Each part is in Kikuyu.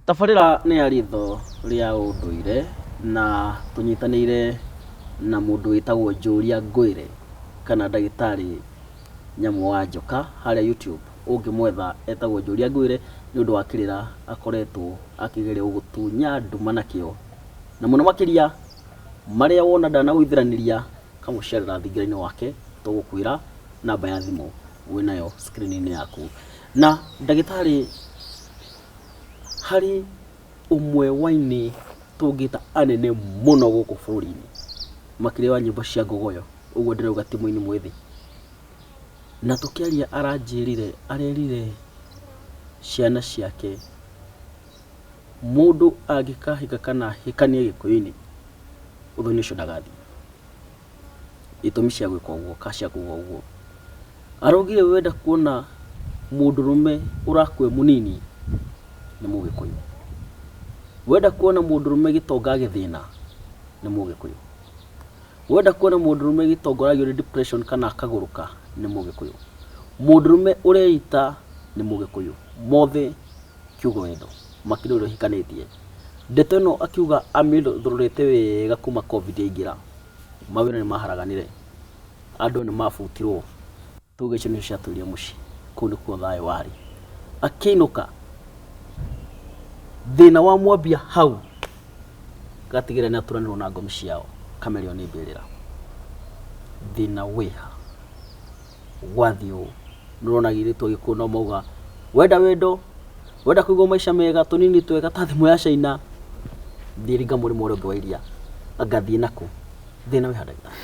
Tabarĩra nĩ ya riitho rĩa ũndũire na tũnyitanĩire na mũndũ wĩtagwo Njũria Ngwĩre kana ndagĩtarĩ Nyamũ wa Njoka harĩa YouTube ũngĩmwetha etagwo Njũria Ngwĩre nĩ ũndũ wa kĩrĩra akoretwo akĩgeria gũgĩtunya nduma nakĩo. Na mũno makĩria marĩa wona ndanagũithĩranĩria ũkamũcerera thingira-inĩ wake tũgũkwĩra namba ya thimũ. wĩ nayo screen-inĩ yaku. Na ndagĩtarĩ harĩ ũmwe wa ainĩ tũngĩta anene mũno gũkũ bũrũri-inĩ makĩria wa nyĩmbo cia ngogoyo, ũguo ndĩrauga ti mũini mwĩthĩ. Na tũkĩaria aranjĩrire, arerire ciana ciake mũndũ angĩkahika kana ahikanie Gĩkũyũ-inĩ, ũthoni ũcio ndagathiĩ. itũmi cia gwĩka ũguo kana cia kuga ũguo. Araugire we enda kuona mũndũrũme ũrakua e mũnini nĩ mũgĩkũyũ. We enda kuona mũndũrũme gĩtonga agĩthĩna nĩ mũgĩkũyũ. We enda kuona mũndũrũme gĩtonga ũragĩa nĩ depression kana akagũrũka nĩ mũgĩkũyũ. Mũndũrũme ũreita nĩ mũgĩkũyũ. Mothe kiugo wendo makĩria ũrĩa ũhikanĩtie. Ndeto ĩno akiuga amĩthũrũrĩte wega kuma Covid yaingĩra, mawĩra nĩ maharaganire, andũ nĩ mabutirwo, tuge icio nĩcio ciatũire mũciĩ, kũu nĩkuo thayũ warĩ. Akĩinũka, thĩna wa mwambia hau gatigĩrĩra nĩ aturanĩrwo na ngomi ciao, kamere ĩyo nĩ mbĩrĩra. Thĩna wĩha? gwathiĩ ũũ. Nĩ ũrona airĩtu agĩkũyũ no mauga wenda wendo, wenda kũigua maica mega, tũnini twega ta thimũ ya Caina, thiĩ ringa mũrĩmo ũrĩa ũngĩ wa iria. Anga thiĩ na kũ? Thĩna wĩ ha ndagĩtarĩ?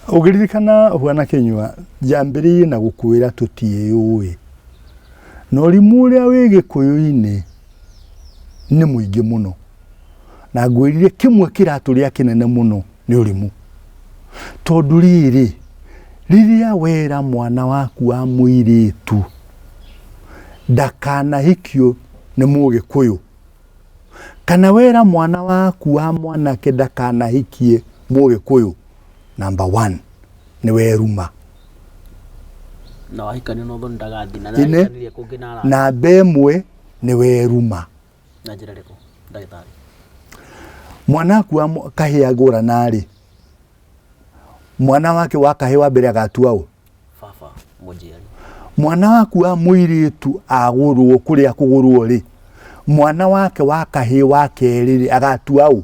Ũngĩririkana Bwana Kinyua, njambĩrĩirie na gũkwĩra tũtiĩyũĩ. Na ũrimũ ũrĩa wĩ gĩkũyũ-inĩ nĩ mũingĩ mũno. Na ngwĩrire kĩmwe kĩratũrĩa kĩnene mũno nĩ ũrimũ tondũ rĩrĩ rĩrĩa wera mwana waku wa mũirĩtu ndakanahikio nĩ mũgĩkũyũ kana wera mwana waku wa mwanake ndakanahikie mũgĩkũyũ namba one nĩ weruma na wahikania na ũthoni ndagathiĩ na Ine. ndahikanirie kũngĩ na arata namba ĩmwe nĩ weruma na njĩra ĩrĩkũ ndagĩtarĩ mwana akuwa mũ- kahĩ agũra narĩ mwana wake wa kahĩ wa mbere agatua ũ baba mũnjiari mwana waku wa mũirĩtu agũrwo kũrĩa kũgũrwo rĩ mwana wake wa kahĩ wa kerĩ rĩ agatua ũ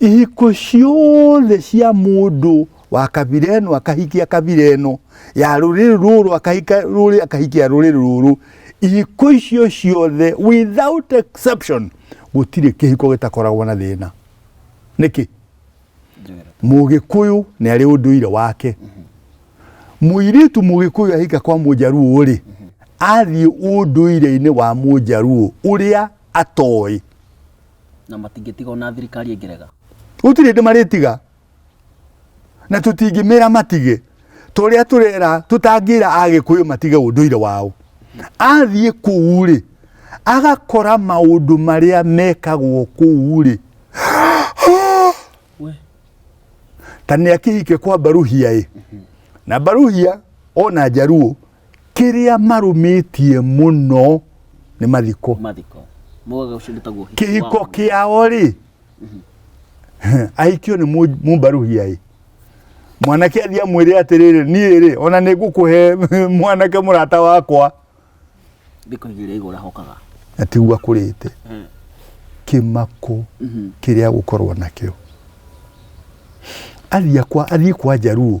ihiko ciothe cia mundu wa kabira eno akahikia kabira eno ya ruriri ruru akahika ruri akahikia ruriri ruru ihiko icio ciothe without exception gutire kihiko gitakoragwo na thina niki mugikuyu ni ari unduire wake muiritu mugikuyu ahika kwa mujaruo ri athie unduire-ini wa mujaruo uria atoĩ na matingĩtiga ona thirikari ĩngĩrega gũtirĩ ndĩ marĩtiga na tũtingĩmĩra matige tũrĩa tũrera tũtangĩra agĩkũyũ matige ũndũire wao athiĩ kũu rĩ agakora maũndũ marĩa mekagwo kũu rĩ we ta nä akä hike kwa mbaruhia ä na mbaruhia ona njaruo kĩrĩa marũmĩtie mũno nĩ mathiko mathiko mogaga ũcio nĩ taguo kĩhiko kĩao rĩ ahikio nĩ mũ- mũmbarũhia ĩ mwanake athiĩ amwĩre atĩrĩrĩ niĩ rĩ ona nĩ ngũkũhe mwanake mũrata wakwa thikũ igĩrĩ igũra hokaga na tiguo akũrĩte Eh. kĩmako Mhm. kĩrĩa gũkorwo nakĩo athiĩ kwa athiĩ kwa njaruo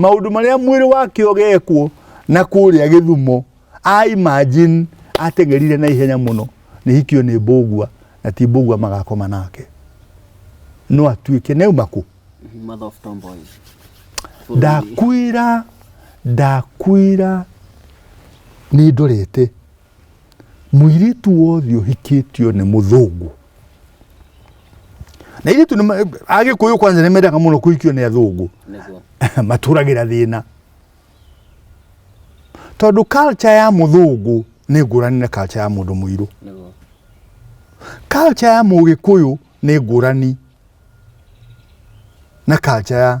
maundu maria mwiri wake ugekwo na kuria githumo a imagine atengerire na ihenya muno ni hikio ni mbugua na ti mbugua magakoma nake no atuike ne umaku Mother of tomboys. ndakwira ndakwira ni ndorete mũirĩtu wothe ũhikĩtio nĩ mũthũngũ na irĩtu agĩkũyũ kwanza nĩ mendaga mũno kũhikio nĩ athũngũ matũragĩra thĩna tondũ culture ya mũthũngũ nĩ ngũrani na culture ya mũndũ mũirũ culture ya mũgĩkũyũ nĩ ngũrani na culture ya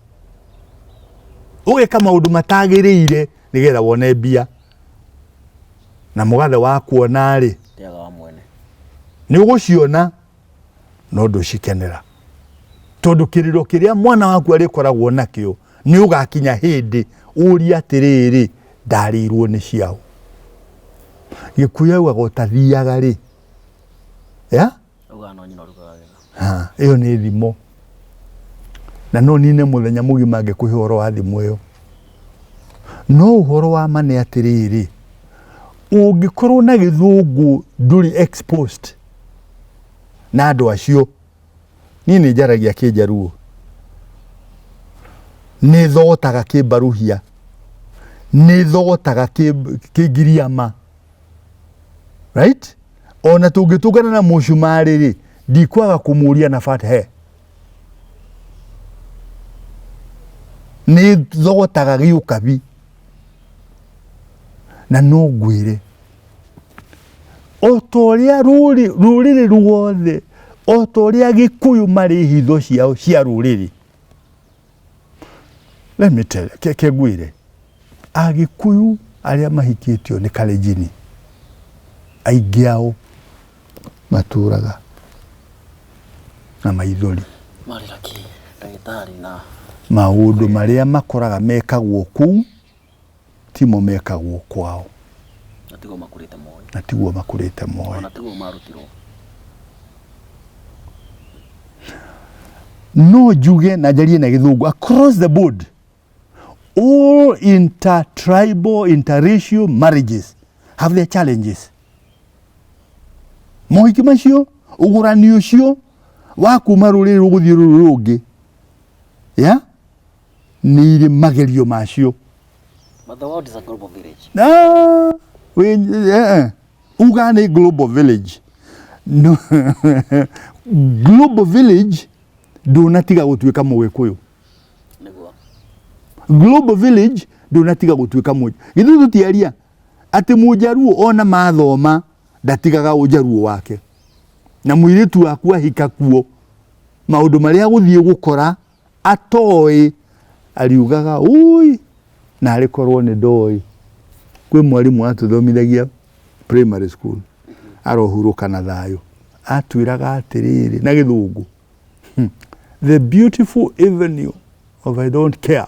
ũgĩka maũndũ matagĩrĩire nĩgetha wone mbia na mũgathe wa kuona rĩ nĩ ũgũciona no ndũcikenera tondũ kĩrĩro kĩrĩa mwana waku arĩkoragwo nakĩo nĩ ũgakinya hĩndĩ ũria atĩrĩrĩ ndarĩirwo nĩ ciao gĩkuyu augaga ũtathiaga rĩ ya ĩyo nĩ thimo na no nine mũthenya mũgima ngĩkũhe ũhoro wa thimũ ĩyo no ũhoro wa ma nĩ atĩrĩrĩ ũngĩkorwo na gĩthũngũ ndũrĩ exposed na andũ acio niĩ nĩ njaragia kĩnjaruo nĩ thogotaga kĩmbaruhia nĩ thogotaga kĩngiriama right ona tũngĩtũngana na mũcumarĩ rĩ ndikwaga kũmũria na bata he nĩ thogotaga gĩũkabi na no ngwĩre o ta ũrĩa rũrĩrĩ ruothe o ta ũrĩa gĩkũyũ marĩ hitho ciao cia rũrĩrĩ Let me tell you, ke kegwire agikuyu aria mahikitio ni kalejini aingi ao maturaga na maithori maundu maria makoraga mekagwo kuu timo mekagwo kwao na tiguo makũrĩte moĩ na tiguo makũrĩte moĩ ona tiguo marutirwo no njuge na njarie na gĩthũngũ across the board all intertribal interracial marriages have their challenges mohiki macio ũgũrani ũcio wa kuma rũrĩrĩ rũgũthiĩ rũrĩrĩ rũngĩ ya nĩ irĩ magerio macio Mother World is a global village. Na, wĩ- eh, eh. uga nĩ global village No, global village ndũnatiga gũtuĩka mũgĩkũyũ Nĩguo. global village ndũnatiga gũtuĩka mũnja githĩ tũtiaria atĩ mũnjaruo ona mathoma ndatigaga ũnjaruo wake na mũirĩtu waku ahika kuo maũndũ marĩa agũthiĩ gũkora atoĩ ariugaga ũi na arĩ korwo nĩ ndoĩ kwĩ mwarimũ atũthomithagia primary school arohurũka na thayũ atwĩraga atĩrĩrĩ na gĩthũngũ hmm, the beautiful avenue of I don't care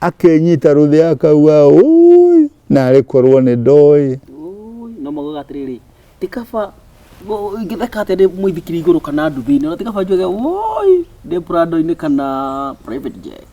akenyita rũthĩ akauga ũi narĩ korwo nĩ ndoĩ no maugaga atĩrĩrĩ ti kaba ingĩtheka atĩa ndĩ mũithikiri igũrũ kana nduthi-inĩ na ti kaba njuge ũi ndĩ prado-inĩ kana private jet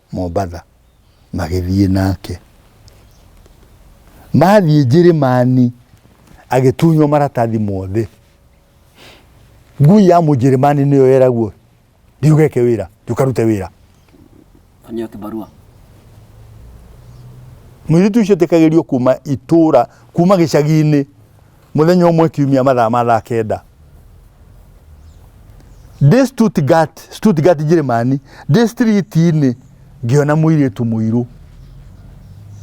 Mombatha, magĩthiĩ nake. Mathiĩ Njĩrĩmani, agĩtunywo maratathi mothe. Ngui ya Mũnjĩrĩmani nĩyo yeragwo, thiĩ ũgeke wĩra, thiĩ ũkarute wĩra. Nĩyo kĩbarua. Mũirĩtu ũcio etĩkagĩrio kuma itũũra, kuma gĩcagi-inĩ. Mũthenya ũmwe kiumia mathaa ma thaa kenda ndĩ Stuttgart, Stuttgart Njĩrĩmani, ndĩ street-inĩ ngĩona mũirĩtu mũirũ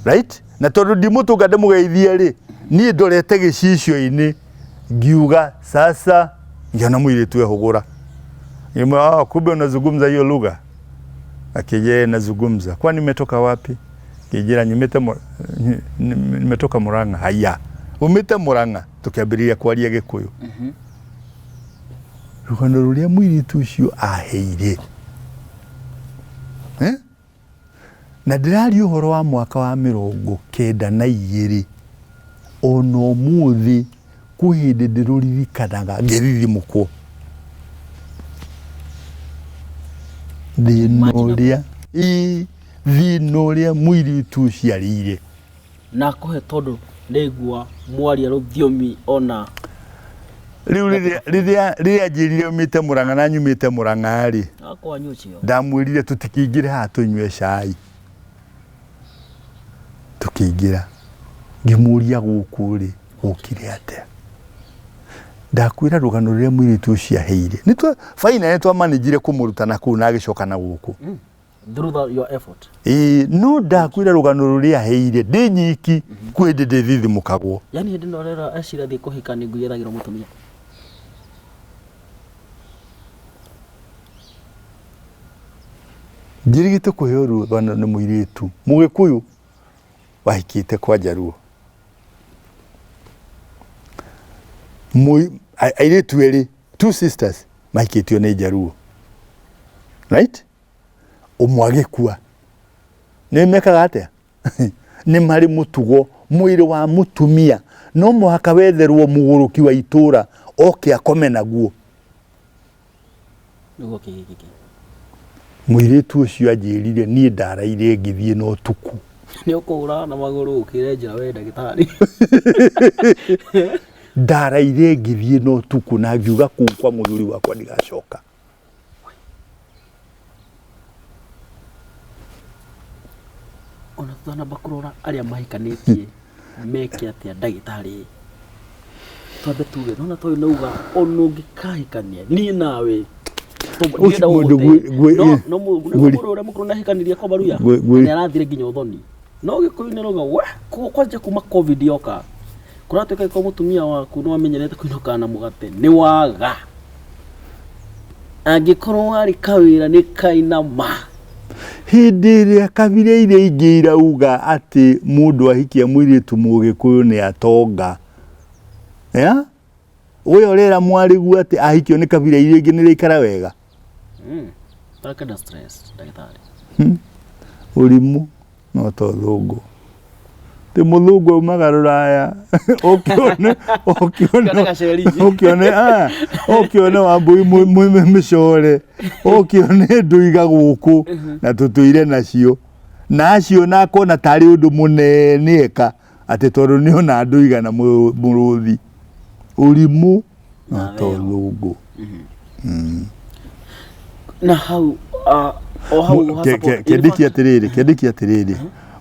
right? na tondũ ndimũtũnga ndĩmũgeithie rĩ niĩ ndorete gĩcicio-inĩ ngiuga sasa, ngĩona mũirĩtu ehũgũra Ngiuga, "Ah, kumbe unazungumza hiyo lugha akije nazugumza kwa nimetoka wapi kijira nyumite mu- nyi- nim- nimetoka muranga haya umite muranga tukiambiriria kwaria gikuyu rugano ruria mwiritu ucio aheire Eh? na ndĩraria ũhoro wa mwaka wa mĩrongo kenda na igĩrĩ ona ũmũthĩ Kwĩ hĩndĩ ndĩrũririkanaga ngĩthithimũkwo thĩna ũrĩa ĩĩ thĩna ũrĩa mũirĩtu ũciarĩire nakũhe tondũ ndaigua mwaria rũthiomi ona rĩu rĩrĩa- rĩrĩa rĩrĩa anjĩrire umĩte mũrang'a na nyumĩte mũrang'a-rĩ akwanyu ũcio ndamwĩrire tũtikĩingĩre haha tũnyue cai tũkĩingĩra ngĩmũria gũkũ rĩ gũkire atĩa ndakwĩra rũgano rũrĩa mũirĩtu ũcio aheire baina nĩ twamanĩnjire kũmũruta na kũu na agĩcoka na gũkũ mm. Ĩĩ no ndakwĩra rũgano rũrĩa aheire ndĩ nyiki mm-hmm. kwĩ ndĩ ndĩthithimũkagwo yani hĩndĩ ĩno rero acira thiĩ kũhika nĩ ngui ĩragĩrwo mũtumia njirigite kuheo rũthana nĩ mũirĩtu mũgĩkũyũ wahikĩte kwa njaruo airĩtu erĩ two sisters mahikĩtio nĩ njaruo right ũmwe agĩkua nĩ mekaga atĩa nĩ marĩ mũtugo mwĩrĩ wa mũtumia no mũhaka wetherwo mũgũrũki wa itũra oke akome naguo nĩguo kĩhingĩke mwĩirĩtu ũcio anjĩrire niĩ ndaraire ngĩthiĩ na ũtukũ nĩ ũkũhũra na magũrũ ũkĩre njĩra we ndagĩtarĩ ndaraire ngĩthiĩ na ũtukũ na ngiuga kũu kwa mũthuri wakwa ndigacoka Ona tũtanamba kũrora arĩa mahikanĩtie meke atĩa ndagĩtarĩ twambe tuge nona toyũ nauga ona ũngĩkahikania niĩ nawe Ũcio mũndũ gwĩ- gwĩ- no mũndũ ũrĩa mũkũrũ nahikanĩria kwa baruya Gwĩ- gwĩ- nĩ arathire nginya ũthoni No gikuyu ni rogo we ko kwanja kuma covid yoka kuratuika ko mutumia waku no amenyerete kuinoka na mugate ni waga angikorwo wari kawira ni kainama Hĩndĩ ĩrĩa kabira iria ingĩ irauga atĩ mũndũ ahikia mũirĩtu mũgĩkũyũ nĩ atonga ya we ũrera mwarĩgu atĩ ahikio nĩ kabira iria ingĩ nĩ rĩikara wega Takenda stress ndagĩtarĩ. Ũrimũ no ta ũthũngũ. Ti mũthũngũ aumaga rũraya ũkĩone ũkĩone Ũkĩone gaceri. ũkĩone ah, ũkĩone wambui mũ- mũ- mũ- mĩcore ũkĩone ndũiga gũkũ na tũtũire nacio na acio na akona tarĩ ũndũ mũnene eka atĩ tondũ nĩ ona andũ igana mũrũthi ũrimũ na tolũngũ na hau ah, o hau Mu- ke- ke- kendĩki atĩrĩrĩ kendĩki atĩrĩrĩ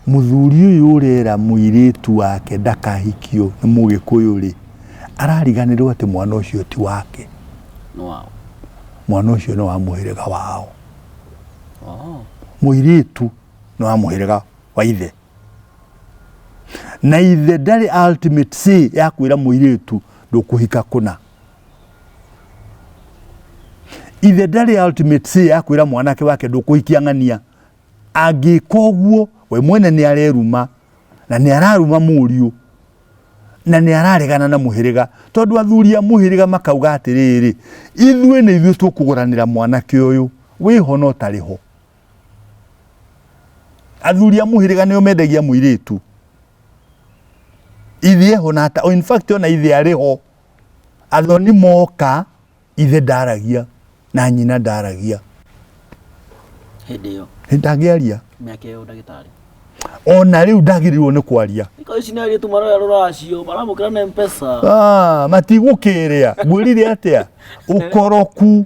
mũthuri ũyũ ũrera mũirĩtu wake ndakahikio nĩ mũgĩkũyũ rĩ arariganĩrwo atĩ mwana ũcio ti wake Wow. mwana ũcio nĩ wa mũhĩrĩga wao Oh. mũirĩtu nĩ wa mũhĩrĩga wa ithe na ithe ndarĩ ultimate say ya kwĩra mũirĩtu ndũkũhika kũna ithe ndarĩ ultimate say ya kwĩra mwanake wake ndũkũhikia ng'ania angĩka ũguo we mwene nĩ areruma na nĩ araruma mũriũ na nĩ araregana na mũhĩrĩga tondũ athuri a mũhĩrĩga makauga atĩrĩrĩ ithuĩ nĩ ithuĩ tũkũgũranĩra mwanake ũyũ wĩho no tarĩ ho athuri a muhiriga nio mendagia muiritu ithe ho na ta in fact ona ithe ari ho athoni moka ithe ndaragia na nyina ndaragia hindi iyo ndagiaria miaka iyo ndagitari ona riu ndagirirwo ni kwaria iko ici ni aritu maroya ruracio maramukira na mpesa ah matigukiria ngwirire atia ukoroku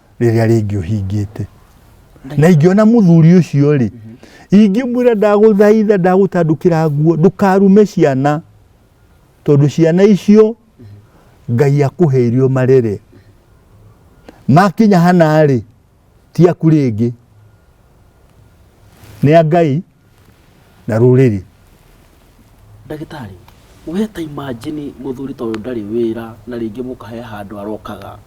rĩrĩa rĩngĩ ũhingĩte na ingĩona mũthuri ũcio rĩ ingĩmwĩra ndagũthaitha ndagũtandũkĩra nguo ndũkarume ciana tondũ ciana icio ngai akũhe irio marere makinya hana rĩ ti aku rĩngĩ nĩ a ngai na rũrĩrĩ. Ndagĩtarĩ, we ta imagine mũthuri ta ũyũ ndarĩ wĩra na rĩngĩ mũka he handũ arokaga.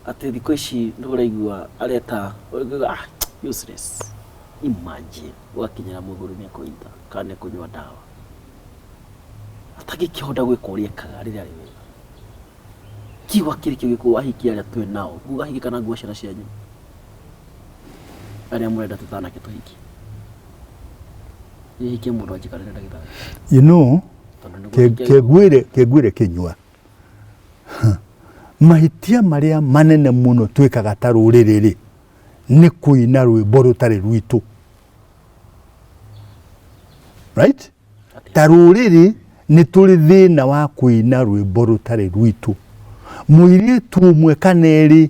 Atĩ thikũ ici nĩ ũraigua areta ũraigua ah useless. Imagine ũgakinyĩra mũthuri nĩ kũita kana nĩ kũnyua ndawa. Atangĩkĩhota gwĩka ũrĩa ekaga rĩrĩa arĩ wĩra. Kiugo kĩrĩ kĩu gĩkũahikia arĩa twĩ nao, nguo ũgahikia kana nguo ciana cianyu. arĩa mũrenda tũtanake tũhiki nĩhikie mũndũ anjikarĩre ndagĩtarĩ you know tondũ nĩguo ke- njike- kengwire kengwire kinywa mahĩtia marĩa manene mũno twĩkaga ta rũrĩrĩ rĩ nĩ kũina rwĩmbo rũtarĩ rwitũ right Atĩ- ta rũrĩrĩ nĩ tũrĩ thĩna wa kũina rwĩmbo rũtarĩ rwitũ mũirĩtu ũmwe kana erĩ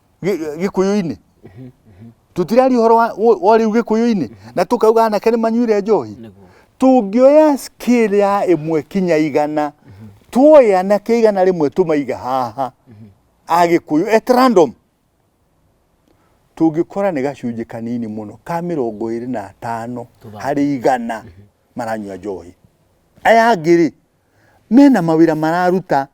gikuyu-ini tutiraria uhoro wa wa riu gikuyu-ini na tukauga anake nĩ manyuire njohi tũngĩoya scale ya ĩmwe kinya igana tuoye anake igana rĩmwe tũmaiga haha a gikuyu at random tũngĩkora nĩ gacunjĩ kanini mũno ka mĩrongo ĩrĩ na atano harĩ igana maranyua njohi aya angĩ-rĩ mena mawĩra mararuta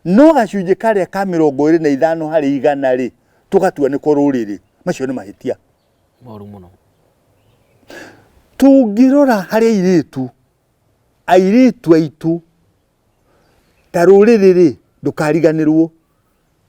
No gacunjĩ karĩa ka mĩrongo ĩrĩ na ithano harĩ igana rĩ, tũgatua nĩko rũrĩrĩ. Macio nĩ mahĩtia. Moru mũno. Tũngĩrora harĩ airĩtu, airĩtu aitũ ta rũrĩrĩ rĩ, ndũkariganĩrwo.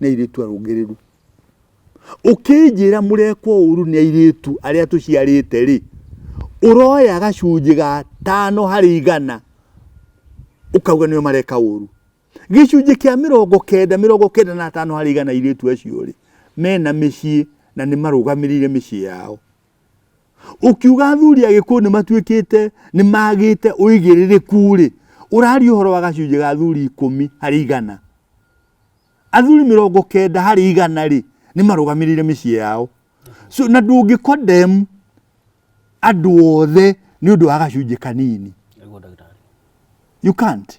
nĩ airĩtu arũngĩrĩru ũkĩnjĩra mũrekwo ũru nĩ airĩtu arĩa tũciarĩte rĩ ũroya gacunjĩ ga tano harĩ igana ũkauga nĩo mareka ũru gĩcunjĩ kĩa mĩrongo kenda mĩrongo kenda na tano harĩ igana airĩtu acio rĩ mena mĩciĩ na nĩ marũgamĩrĩire mĩciĩ yao ũkiuga athuri agĩkũyũ nĩ matuĩkĩte nĩ magĩte ũigĩrĩrĩku rĩ ũrari ũhoro wa gacunjĩ ga athuri ikũmi harĩ igana athuri mĩrongo kenda harĩ igana rĩ nĩ marũgamĩrĩire mĩciĩ yao so, na ndũngĩ condemn andũ othe nĩ ũndũ wa gacunjĩ kanini you can't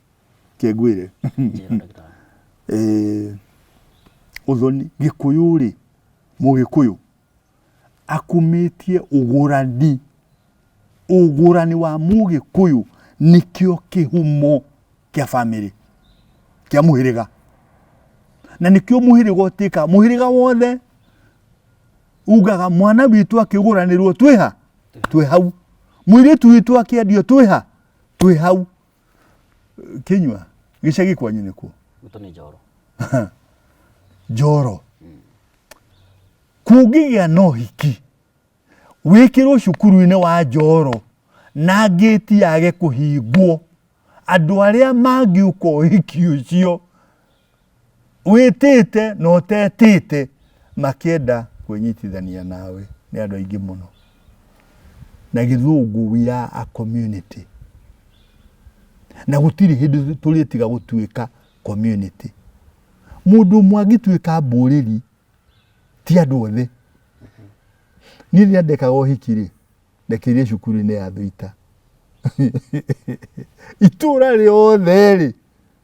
kĩngwĩre Njĩra ndagĩtarĩ. Eh, ũthoni gĩkũyũ rĩ mũgĩkũyũ akumĩtie ũgũrani ũgũrani wa mũgĩkũyũ nĩkĩo kĩhumo kĩa bamĩrĩ kĩa mũhĩrĩga na nĩkĩo mũhĩrĩga ũtĩka mũhĩrĩga wothe ugaga mwana witũ akĩgũranĩrwo twĩha twĩ hau mũirĩtu witũ akĩendio twĩha twĩ hau kinywa gicagi kwanyu nikuo Gwitũ nĩ njoro. njoro kũngĩgĩa na ũhiki wĩkĩrwo cukuru-inĩ wa njoro na ngĩti yage kũhingwo andũ arĩa mangĩũka ũhiki ũcio wĩtĩte na ũtetĩte makĩenda kwĩnyitithania nawe nĩ andũ aingĩ mũno na gĩthũngũ we are a community na gũtirĩ hĩndĩ tũrĩtiga gũtuĩka community mũndũ ũmwe angĩtuĩka mbũrĩri ti andũ othe niĩ rĩrĩa ndekaga ũhiki rĩ ndekĩire cukuru-inĩ ya thũita itũra rĩothe rĩ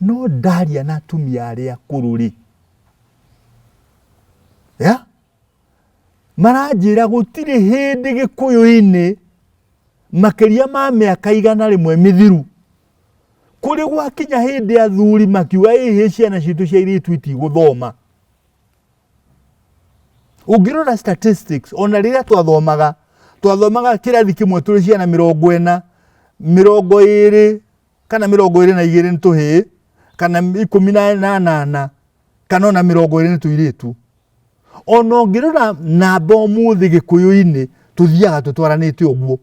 no ndaria na atumia arĩa akũrũ rĩ ya maranjĩra gũtirĩ hĩndĩ gĩkũyũ-inĩ makĩria ma mĩaka igana rĩmwe mĩthiru kũrĩ gwakinya hĩndĩ athuri makiuga ĩhĩ ciana citũ cia irĩtu itigũthoma ũngĩrora statistics ona rĩrĩa twathomaga twathomaga kĩrathi kĩmwe tũrĩ ciana mĩrongo ĩna mĩrongo ĩrĩ kana mĩrongo ĩrĩ na igĩrĩ nĩ tũhĩĩ kana ikũmi na anana kana ona mĩrongo ĩrĩ nĩ tũirĩtu ona ũngĩrora namba ũmũthĩ gĩkũyũ-inĩ tũthiaga tũtwaranĩte ũguo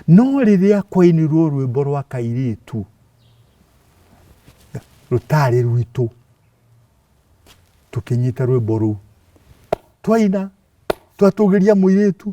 no rĩrĩa kwainirwo rwĩmbo rwa kairĩtu rũtarĩ rwitũ tũkĩnyita rwĩmbo rũu twaina twatũgĩria mũirĩtu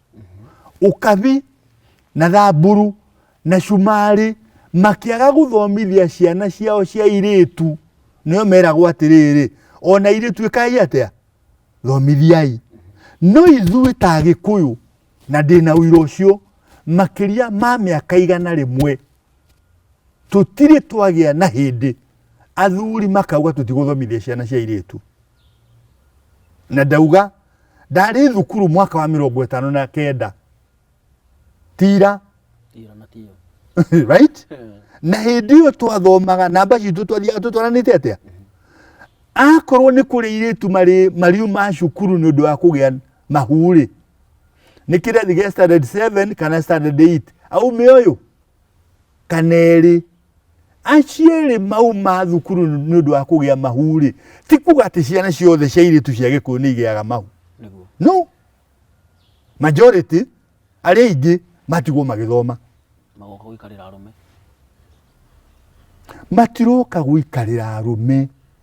ukabi na thamburu na cumari makiaga guthomithia ciana ciao cia iritu nio meragwo atiriri ona iritu ikai atia thomithiai no ithui ta gikuyu na ndina uira ucio makiria ma miaka igana rimwe tutiri twagia na hindi athuri makauga tutiguthomithia ciana cia iritu na ndauga ndarĩ thukuru mwaka wa mĩrongo ĩtano na kenda tira right na hĩndĩ ĩyo twathomaga namba citũ twathiaga tũtwaranĩte atĩa akorwo nĩ kũrĩ irĩtu marĩ mariu ma cukuru nĩ ũndũ wa kũgĩa mahurĩ nä kä rethi gä standard 7 kana standard 8 aumä å yå kana erĩ acio erĩ mau ma thukuru nĩ ũndũ wa kũgĩa mahu rĩ ti kuga atĩ ciana ciothe cia irĩtu cia gĩkũyũ nĩ igĩaga mahu no majority arĩa aingĩ matigwo magĩthoma magoka gũikarĩra arũme matiroka gũikarĩra arũme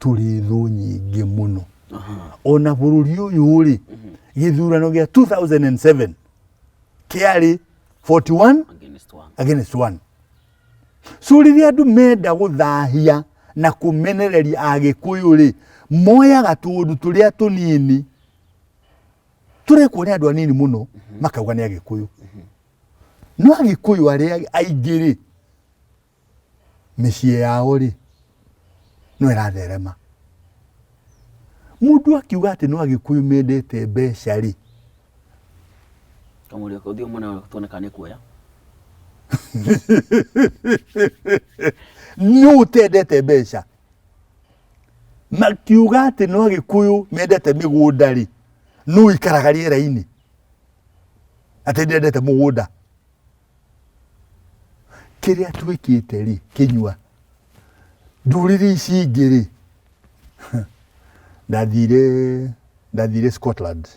tũrĩ thũ nyingĩ mũno ona bũrũri ũyũ rĩ gĩthurano gĩa 2007 kĩarĩ 41 against one against one so rĩrĩa andũ menda gũthahia na kũmenereria agĩkũyũ rĩ moyaga tũũndũ tũrĩa tũnini tũrekwo nĩ andũ anini mũno makauga nĩ agĩkũyũ no agĩkũyũ arĩa aingĩ rĩ mĩciĩ yao rĩ no ĩratherema mũndũ akiuga atĩ no agĩkũyũ mendete mbeca rĩ kamũrĩa kaũthiũ mũna tuone kana nĩ kuoya nĩ ũtendete mbeca makiuga atĩ no agĩkũyũ mendete mĩgũnda rĩ nũ ikaraga rĩera-inĩ atĩ ndendete mũgũnda kĩrĩa twĩkĩte rĩ kĩnyua ndũrĩrĩ ici ingĩ rĩ ndathire ndathire Scotland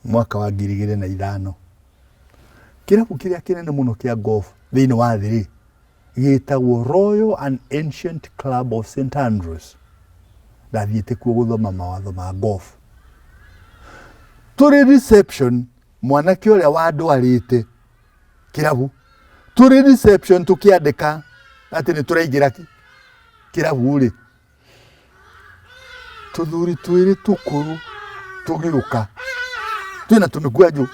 mwaka wa ngiri igĩrĩ na ithano kĩrabu kĩrĩa kĩnene mũno kĩa golf thĩinĩ wa thĩ rĩ gĩtagwo Royal and Ancient Club of St Andrews ndathiĩte kuo gũthoma mawatho ma golf tũrĩ reception Mwanake ũrĩa wandwarĩte kĩrabu tũrĩ reception tũkĩandĩka atĩ nĩ tũraingĩra kĩrabu-rĩ, tũthuri twĩrĩ tũkũrũ tũgĩũka twĩna tũmĩkwanjũ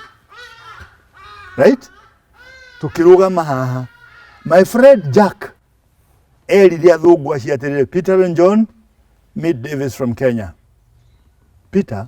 right tũkĩrũgama haha my friend Jack erire athũngũ acio atĩrĩrĩ Peter and John meet Davis from Kenya Peter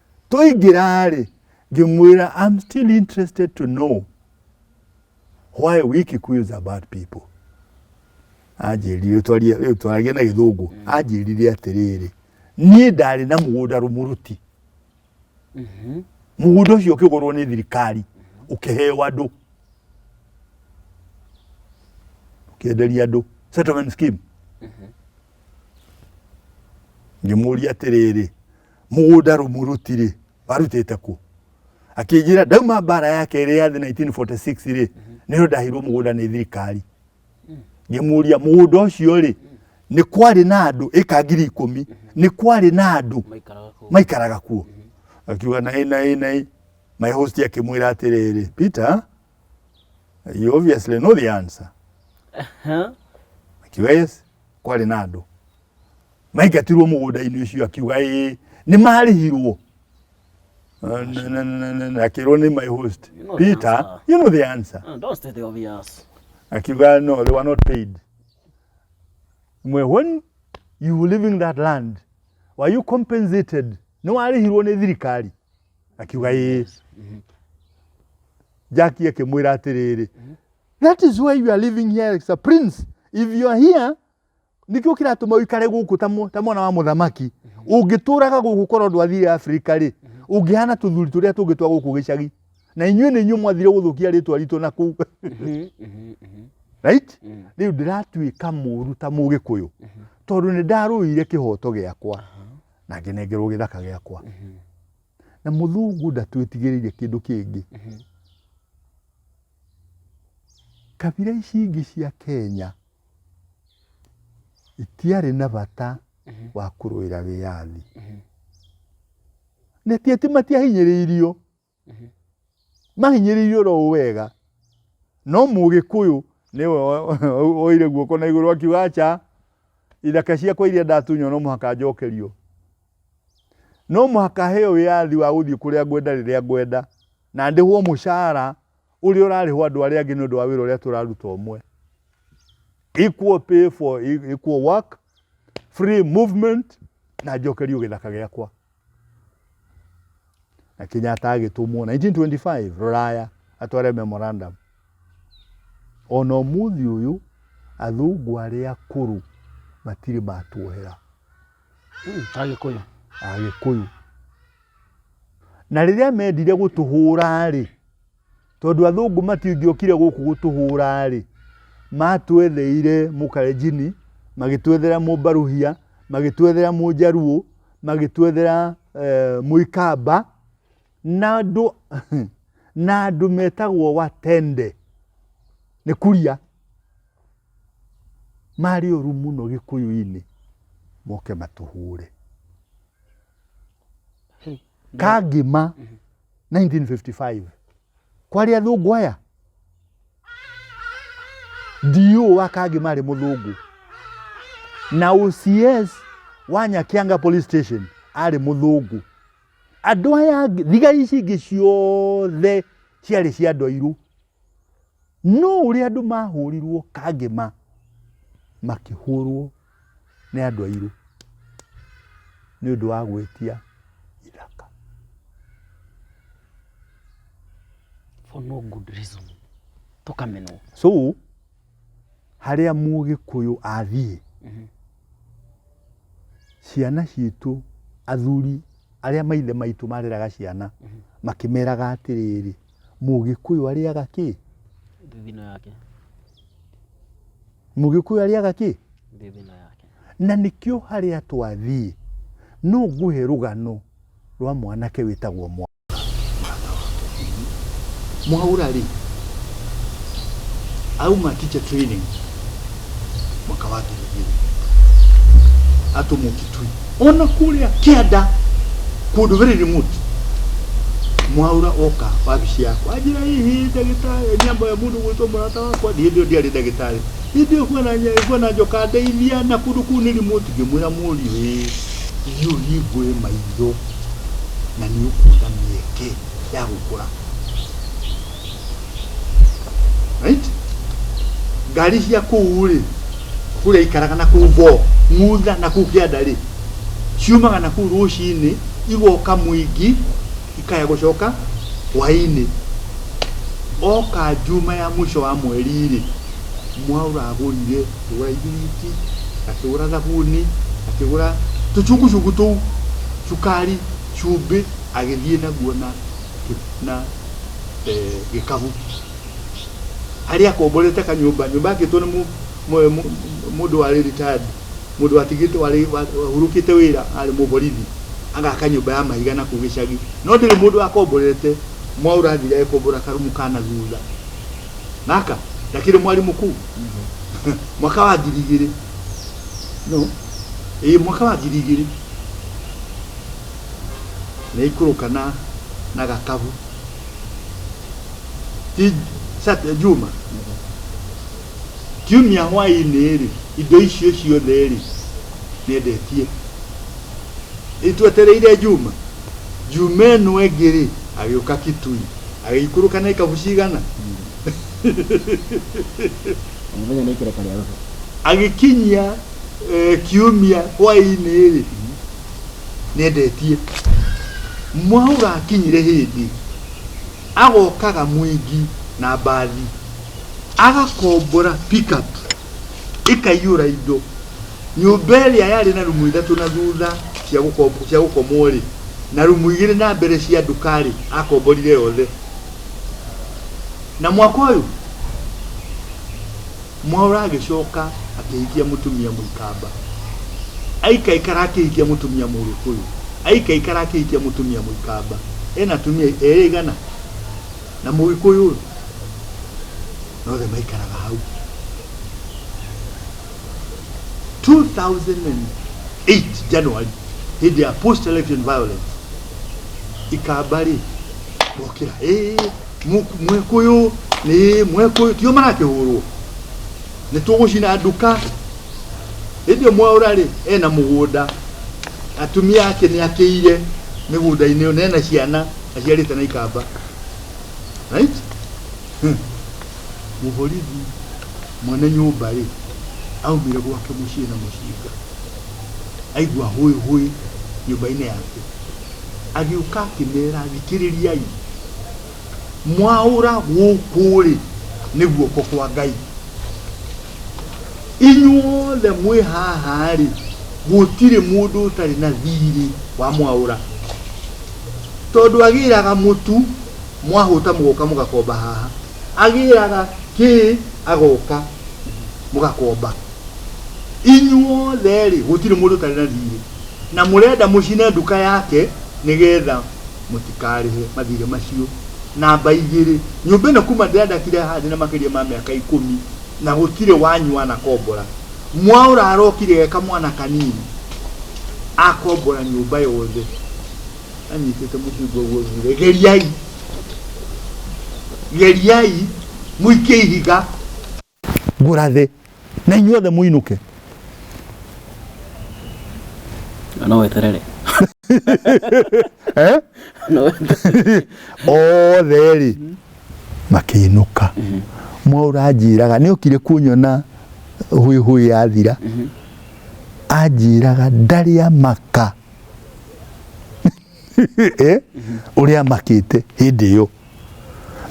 twaingĩra-rĩ ngĩmwĩra I'm still interested to know why we Kikuyus are bad people anjĩrire rĩu twaragia na gĩthũngũ mm. anjĩrire atĩrĩrĩ niĩ ndarĩ na mũgũnda rũmũrũti mm-hmm. mũgũnda ũcio ũkĩgũrwo nĩ thirikari ũkĩheo andũ ũkĩenderia andũ settlement scheme mm-hmm. ngĩmũria atĩrĩrĩ mũgũnda rũmũrũti-rĩ warutĩte kũ akĩnjĩra ndauma mbara ya kerĩ ya thĩ 1946-rĩ nĩyo ndahirwo mũgũnda nĩ thirikari ngĩmũria mũgũnda ũcio-rĩ nĩ kwarĩ na andũ ĩka ngiri ikũmi nĩ kwarĩ na andũ maikaraga kũu maikaraga kuo akiuga naĩ naĩ naĩ my host akĩmwĩra atĩrĩrĩ peter you obviously know the answer Huh? akiuga yes kwarĩ na andũ maingatirwo mũgũnda-inĩ ũcio akiuga ĩĩ nĩ marĩhirwo Na- na- na- na- na- na akĩrwo nĩ my host You know the peter answer. you know the answer Uh, don't state the obvious. akiuga no they were not paid mwe when you were leaving that land were you compensated nĩ warĩhirwo nĩ thirikari akiuga ĩĩ jaki akĩmwĩra atĩrĩrĩ that is why you are living here as a prince if you are here nĩkĩo kĩratũma ũikare gũkũ ta mwa- ta mwana wa mũthamaki ũngĩtũraga gũkũ korwo ndwathire afrika rĩ ũngĩhana tũthuri tũrĩa tũngĩ twa gũkũ gĩcagi na inyuĩ nĩ inyuĩ mwathire gũthũkia rĩtwa ritũ na kũu right rĩu ndĩratuĩka mũru ta mũgĩkũyũ tondũ nĩ ndarũire kĩhoto gĩakwa na ngĩnengerwo gĩthaka gĩakwa na mũthungu ndatwĩtigĩrĩire kĩndũ kĩngĩ kabira ici ingĩ cia kenya itiarĩ na bata wa kũrũĩra wĩyathi na ti atĩ matiahinyĩrĩirio mahinyĩrĩirio ro wega no mũgĩkũyũ nĩwe oire guoko na igũrũ akiuga aca ithaka ciakwa iria ndatunywo no mũhaka njokerio no mũhaka heo wĩyathi wa gũthiĩ kũrĩa ngwenda rĩrĩa ngwenda na ndĩhwo mũcara ũrĩa ũrarĩhwo andũ arĩa angĩ nĩ ũndũ wa wĩra ũrĩa tũraruta ũmwe equal pay for e- equal work free movement na njokerio gĩthaka gĩakwa na kenyatta agĩtũmwo 1925 rũraya atware memorandum ona ũmũthĩ ũyũ athũngũ arĩa akũrũ matirĩ matuohera Mm, Agĩkũyũ. agĩkũyũ na rĩrĩa mendire gũtũhũra-rĩ tondũ athũngũ matingĩokire gũkũ gũtũhũra-rĩ matwetheire mũkarenjini magĩtwethera mũmbaruhia magĩtwethera mũnjaruo magĩtwethera eh, mũikamba na andũ na andũ metagwo watende nĩ kuria marĩ ũru mũno gĩkũyũ-inĩ moke matũhũre kangĩma 1955 kwarĩ athũngũ aya ndiũ wa kangĩma arĩ mũthũngũ na OCS wa Nyakianga police station arĩ mũthũngũ andũ aya angĩ thiga ici ingĩ ciothe ciarĩ cia andũ airũ No ũrĩa andũ mahũrirwo kangĩma makĩhũrwo nĩ andũ airũ nĩ ũndũ wa gwĩtia ithaka. For no good reason. Tũkamenwo. So harĩa mũgĩkũyũ athiĩ Mhm. ciana citũ athuri arĩa maithe maitũ mareraga ciana makĩmeraga atĩrĩrĩ Mũgĩkũyũ arĩaga kĩ? Thithino yake. Mũgĩkũyũ arĩaga kĩ? Thithino yake. Na nĩkĩo harĩa twathiĩ no ngũhe rũgano rwa mwanake wĩtagwo mwa mwaura rĩ auma teacher training mwaka wa ngiri igĩrĩ atũ mũkitui ona kũrĩa kĩanda kũndũ very remote mwaura oka wabici yakwa anjĩra hihi ndagĩtarĩ nyambo ya mũndũ gwĩtwo mũrata wakwa hĩndĩ ĩyo ndiarĩ ndagĩtarĩ hĩndĩ ĩyo bwana Nya- bwana njoka ndeithia na kũndũ kũu nĩ remote ngĩmwĩra mũriũ ĩ ithiĩ ũhingũre maitho na nĩ ũkuona mĩeke ya gũkũra right ngari cia kũu rĩ kũrĩa ikaraga na kũu bo mutha na kũu kĩanda rĩ ciumaga na kũu rũcinĩ igoka mũingi ikaya gũcoka hwainĩ oka njuma ya mũico wa mweri rĩ mwaura agũrire akĩgũra ibiriti akĩgũra thabuni akĩgũra tũcungucungu tũu cukari cumbĩ agĩthiĩ naguo na na eh, gĩkabu harĩa akomborete kanyũmba nyũmba yakĩtwo nĩ mũ- mũ- mũ- mũndũ warĩ retired mũndũ watigĩte warĩ wa- wahurũkĩte wĩra arĩ mũborithi agaka nyũmba ya mahiga na kũu gĩcagi no ndĩrĩ mũndũ wakomborete mwaũra athire agĩkombora karumu kana thutha gaka ndakĩrĩ mwarimũ kũu mwaka wa ngiri igĩrĩ no ĩĩ mwaka wa ngiri igĩrĩ Nĩaikũrũka na na gatabu. Ti Sat- Juma. Kiumia hwaĩ-inĩ-rĩ, indo icio ciothe-rĩ, nĩendetie. Rĩu twetereire Juma. Juma ĩno ĩngĩ-rĩ, agĩũka Kitui. Agĩikũrũka na ikabu cigana? O mũthenya nĩ ikereka rĩa roho. Agĩkinyia eh, kiumia hwaĩ-inĩ-rĩ, nĩendetie mwaura akinyire hĩndĩ agokaga mwingi na mbathi agakombora pickup ĩkaiyũra indo nyũmba ĩrĩa yarĩ na rumu ithatũ na thutha cia gũkom- cia gũkomwo rĩ na rumu igĩrĩ na mbere cia nduka rĩ akomborire yothe na mwaka ũyũ Mwaũra agĩcoka akĩhikia mũtumia Mũikamba. Aikaikara akĩhikia mũtumia Mũgĩkũyũ. Aikaikara akĩhikia mũtumia Mũikamba. Ena atumia erĩ igana na Mũgĩkũyũ ũyũ. Na othe maikaraga hau. 2008 January hĩndĩ ya post election violence ikamba rĩ gokĩra ĩĩ mwĩkũyũ nĩ mwĩkũyũ tio marakĩhũrwo nĩ tũgũcina nduka hĩndĩ ĩyo mwaũra rĩ ena mũgũnda atumia ake nĩ akĩire mĩgũnda-inĩ ĩyo na ena ciana aciarĩte na ikamba right Hmm. mũborithi mwene nyũmba rĩ aumire gwake mũciĩ na mũcinga aigua hũĩ hũĩ nyũmba-inĩ yake agĩũka akĩmera thikĩrĩriai mwaũra gũkũ-rĩ nĩ guoko kwa ngai inyuothe mwĩ haha-rĩ gũtirĩ mũndũ ũtarĩ na thirĩ wa mwaũra tondũ agĩraga mũtu mwahũta mũgoka mũgakomba haha agĩraga kĩ agoka mũgakomba inyuothe-rĩ gũtirĩ mũndũ ũtarĩ na thiirĩ na mũrenda mũcine nduka yake nĩgetha mũtikarĩhe mathiirĩ macio. Namba igĩrĩ, nyũmba ĩno kuma ndĩandakire haha ndĩna makĩria ma mĩaka ikũmi na gũtirĩ wanyu wanakombora. Mwaũra arokire e kamwana kanini akombora nyũmba yothe anyitĩte mũcingo ũguo augire geriai geriai mũikie ihiga ngũra thĩ na inyuothe mũinũke no weterere eh? othe rĩ makĩinũka mhm. mwaura anjĩraga nĩ okire kunyona hwĩ hwĩ ya thira mhm. anjĩraga ndarĩa maka Eh? ũrĩa amakĩte hĩndĩ ĩyo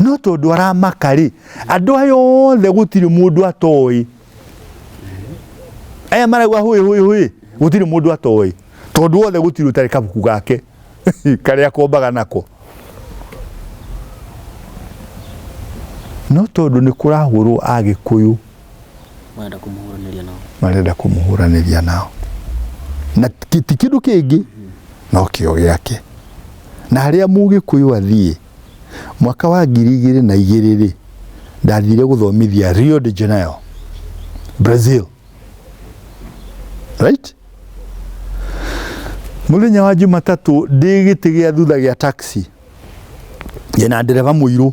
no tondũ aramaka rĩ andũ aya othe gũtirĩ mũndũ atoĩ aya marauga hũĩ hũĩ hũĩ gũtirĩ mũndũ atoĩ tondũ othe gũtirĩ ũtarĩ kabuku gake karĩa akombaga nako no tondũ nĩ kũrahũrwo agĩkũyũ marenda kũmũhũranĩria nao na ti kĩndũ kĩngĩ no kĩo gĩake na harĩa mũgĩkũyũ athiĩ mwaka wa ngiri igĩrĩ na igĩrĩ rĩ ndathire gũthomithia Rio de Janeiro Brazil right mũthenya wa Jumatatũ ndĩ gĩtĩ gĩa thutha gĩa taxi ndĩna ndereba mũirũ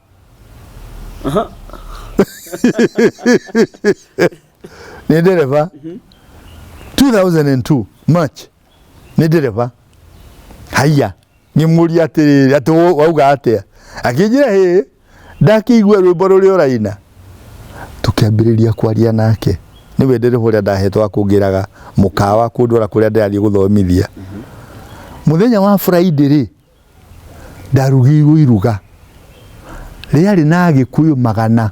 ni dereva 2002 march ni dereva haiya ngimuri atiriri ati wo- wauga atia akinjira hi ndakĩigua rwĩmbo rũrĩa ũraina tũkĩambĩrĩria kwaria nake nĩ we ndereva ũrĩa ndahetwo akũngĩraga mũkawa kũndwara kũrĩa ndĩrathiĩ gũthomithia mũthenya wa friday rĩ ndarugirwo iruga rĩarĩ na agĩkũyũ magana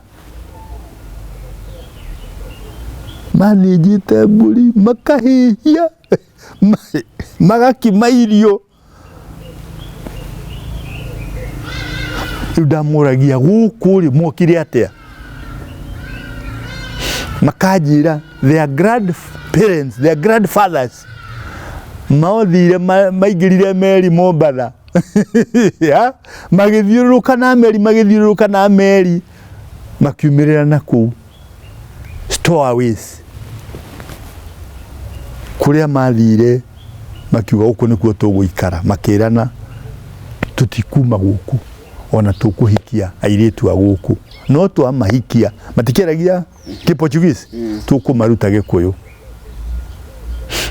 manĩnjĩte mbũri makahĩhia ma- magakima irio rĩu ndamũragia gũkũ rĩ mokire atĩa makanjĩra their grandparents their grandfathers Maothire ma- maingĩrire meri Mombatha Ya, magĩthiũrũrũka na meri magĩthiũrũrũka na meri makiumĩrĩra na kũu stowaways kũrĩa mathire makiuga gũkũ nĩkuo tũgũikara makĩrana tũtikuma gũkũ ona tũkũhikia airĩtu a gũkũ no twamahikia matikĩaragia Gĩportuguese mm. tũkũmaruta Gĩkũyũ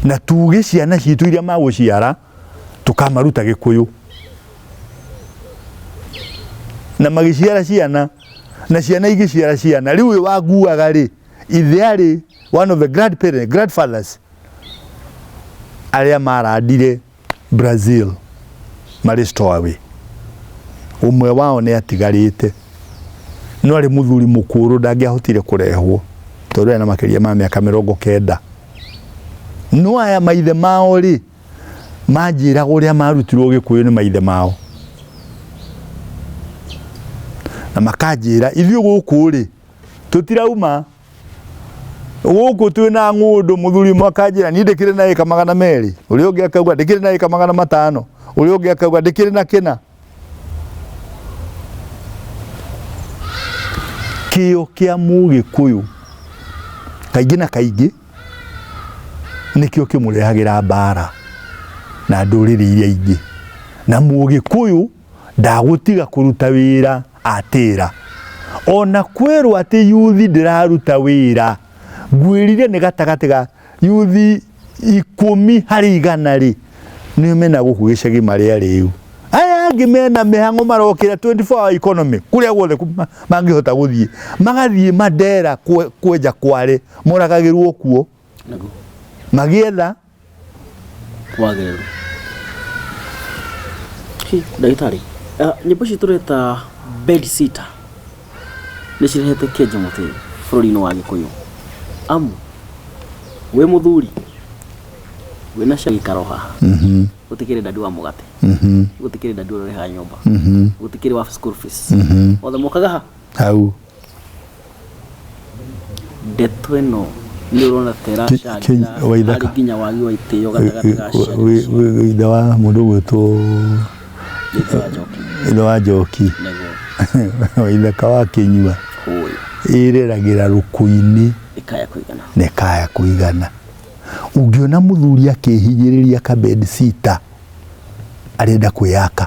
na tuge ciana citũ iria magũciara tũkamaruta Gĩkũyũ na magĩciara ciana na ciana igĩciara ciana rĩu ũyũ wanguaga rĩ ithe arĩ one of the grandparents grandfathers arĩa marandire Brazil marĩ stowaway. Ũmwe wao nĩ atigarĩte no arĩ mũthuri mũkũrũ ndangĩahotire kũrehwo tondũ ena makĩria ma mĩaka mĩrongo kenda. No aya maithe mao rĩ, manjĩraga ũrĩa marutirwo gĩkũyũ nĩ maithe mao na makanjĩra ithuĩ gũkũ rĩ tũtirauma gũkũ twĩ na ng'ũndũ mũthuri ũmwe akanjĩra niĩ ndĩkĩrĩ na ĩka magana merĩ ũrĩa ũngĩ akauga ndĩkĩrĩ na ĩka magana matano ũrĩa ũngĩ akauga ndĩkĩrĩ na kĩna kĩo kĩa mũgĩkũyũ kaingĩ na kaingĩ nĩkĩo kĩmũrehagĩra mbara na ndũrĩrĩ iria ingĩ na mũgĩkũyũ ndagũtiga kũruta wĩra atĩra ona kwĩrwo atĩ yuthi ndĩraruta wĩra ngwĩrire nĩ gatagatĩ ga yuthi ikũmi harĩ igana rĩ nĩ mena gũkũ gĩcagi marĩa rĩu aya angĩ mena mĩhang'o marokĩra 24 hour economy kũrĩa guothe mangĩhota gũthiĩ magathiĩ mandera kwenja kware moragagĩrwo kuo magĩetha wagĩrĩru Hi, ndagĩtarĩ ah, nyĩmbo ici tũreta bed sitter nĩ cirehete kenja mũtĩ bũrũri-inĩ wa gĩkũyũ amu wĩ mũthuri wĩna cia gĩikaro haha gũtikĩrĩ ndandi wa mũgate gũtikĩrĩ ndandi ũrĩha nyũmba gũtikĩrĩ wa school fees othe mokaga ha hau Ndeto ĩno nĩ ũrona ta ĩracangĩra harĩ nginya wagi wa itĩo gatagatĩ ga ciana icio. Ithe wa mũndũ ũgwĩtwo ithe wa njoki waithaka wa kĩnyua ĩreragĩra rũkũ-inĩ na ĩkaya kũigana ũngĩona mũthuri akĩhinyĩrĩria kabedi sita arenda kwĩyaka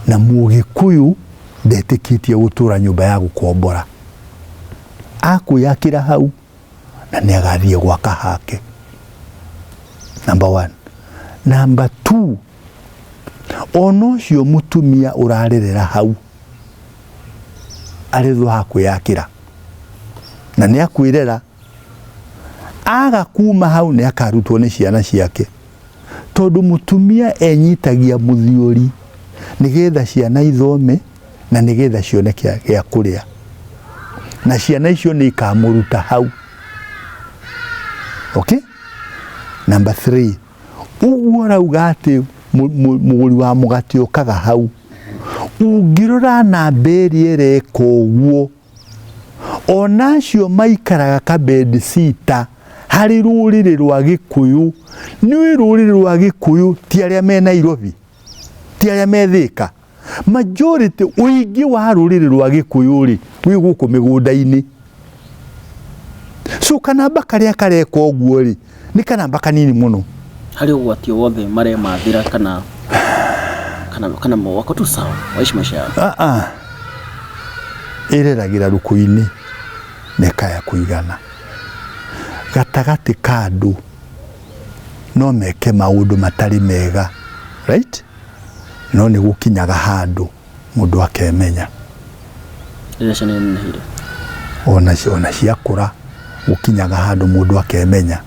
na mũgĩkũyũ ndetĩkĩtie gũtũra nyũmba ya gũkombora akwĩyakĩra hau na nĩ agathiĩ gwaka hake number one number two ona ũcio mũtumia ũrarerera hau arethwo hakwĩyakĩra na nĩ akwĩrera Aga kuma hau nĩ akarutwo nĩ ciana ciake, tondũ mũtumia enyitagia mũthiũri nĩgetha ciana ithome na nĩgetha cione gĩa kũrĩa, na ciana icio nĩ ikamũruta hau. Okay? Number three, ũguo rauga atĩ mũgũri wa mũgate ũkaga hau, ũngĩrora namba ĩrĩa ĩreka ũguo o nacio maikaraga kabendi sita harĩ rũrĩrĩ rwa gĩkũyũ nĩũĩ rũrĩrĩ rwa gĩkũyũ ti arĩa me nairobi ti arĩa methĩka majority ũingĩ wa rũrĩrĩ rwa gĩkũyũ rĩ wĩ gũkũ mĩgũnda-inĩ so kanamba karĩa kareka ũguo rĩ nĩ kanamba kanini mũno harĩ ũgwati o wothe maremathĩra kana kana kana wako tu sawa waishi maisha yao Ah, ah. ĩreragĩra rũkũ-inĩ na ĩkaya kũigana gatagatĩ ka andũ no meke maũndũ matarĩ mega right no nĩ gũkinyaga handũ mũndũ akemenya rĩrĩa ciana inenehire ona ci- ona ciakũra gũkinyaga handũ mũndũ akemenya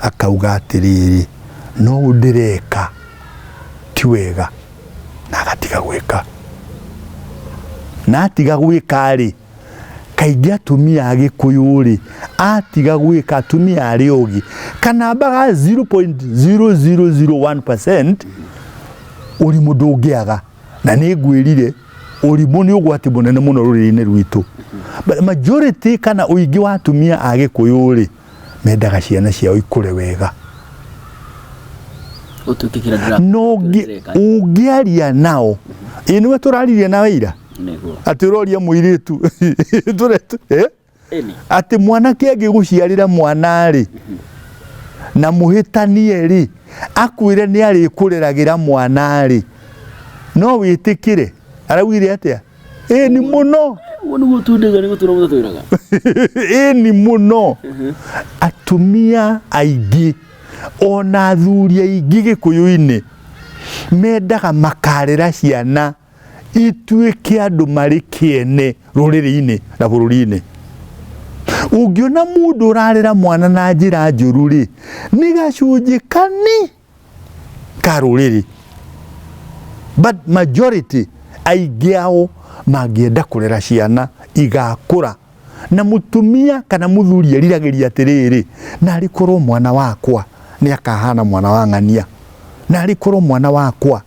akauga atĩrĩrĩ no ũũ ndĩreka ti wega na agatiga gwĩka na atiga gwĩka rĩ kaingĩ atumia a gĩkũyũ rĩ atiga gwĩka atumia arĩ ũgĩ kanamba ga 0.0001% ũrimũ ndũngĩaga na nĩ ngwĩrire ũrimũ nĩ ũgwati mũnene mũno rũrĩrĩ-inĩ rwitũ majority kana ũingĩ wa atumia a gĩkũyũ rĩ mendaga ciana ciao ikũre wega no ũngĩaria nao ĩ nĩwe tũraririe nawe ira atĩ ũroria mũirĩtu eh? atĩ mwanake angĩgũciarĩra mwana-rĩ na mũhĩtanie-rĩ akwĩre nĩ arĩkũreragĩra mwana-rĩ no wĩtĩkĩre araugire atĩa ĩni mũno Ũguo nĩguo tundĩga nĩ gũtũra mũtatũraga. ĩni mũno atumia aingĩ ona athuri aingĩ gĩkũyũ-inĩ mendaga makarera ciana ituĩke andũ marĩ kĩene rũrĩrĩ-inĩ na bũrũri-inĩ ũngĩona mũndũ ũrarera mwana na njĩra njũru rĩ nĩ gacunjĩ kani ka rũrĩrĩ but majority aingĩ ao mangĩenda kũrera ciana igakũra na mutumia kana muthuri eriragĩria atĩrĩrĩ na arĩkorwo mwana wakwa nĩ akahana mwana wa ng'ania na arĩkorwo mwana wakwa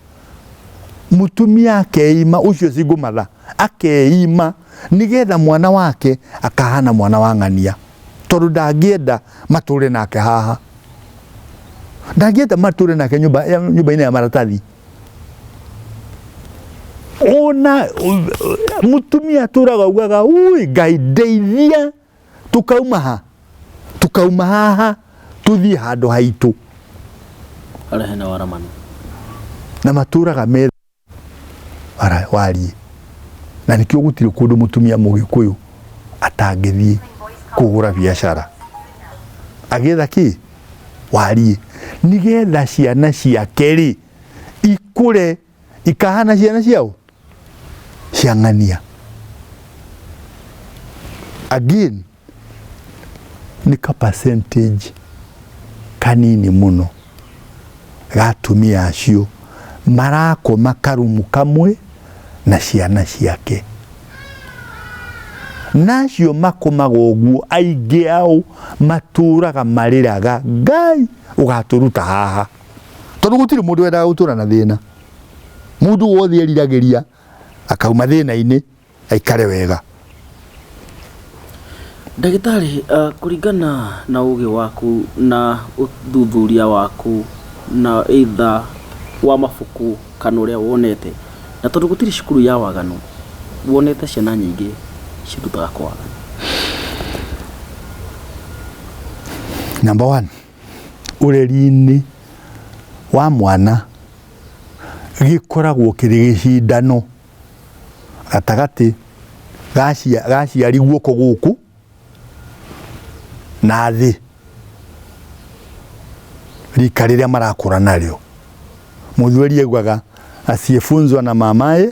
mũtumia akeima ũcio cingũmatha akeima nĩgetha mwana wake akahana mwana wa ng'ania tondũ ndangĩenda matũre nake haha ndangĩenda matũre nake nyũmba-inĩ ya maratathi ona mũtumia atũraga ugaga ui ngai ndeithia tukauma ha tukauma haha tuthii handu haitu Harĩa hena waramanu. na maturaga me Ara- warie na nikio gutire kundu mutumia mugikuyu atangithii kugura biashara agetha ki warie nigetha ciana ciake ri ikure Ikahana ciana ciao cia ng'ania. Again, nĩ ka percentage kanini mũno ga atumia acio marakoma karumu kamwe na ciana ciake nacio makomaga ũguo aingĩ ao matũraga marĩraga ngai ũgatũruta haha tondå gå tirä må ndå wendaga gå tå ra na thä na må ndå wothe eriragä ria akauma thä na-inä aikare wega Ndagĩtarĩ, uh, kũringana na ũgĩ waku na ũthuthuria waku na either wa mabuku kana ũrĩa wonete, na tondũ gũtirĩ cukuru ya waganu, wonete ciana nyingĩ cirutaga kwa waganu. Number one. ũreri-inĩ wa mwana gĩkoragwo kĩrĩ gĩcindano gatagatĩ ga aciari guoko gũkũ na thĩ rika rĩrĩa marakũra narĩo. Mũthweri augaga asiyefunzwa na mamaye.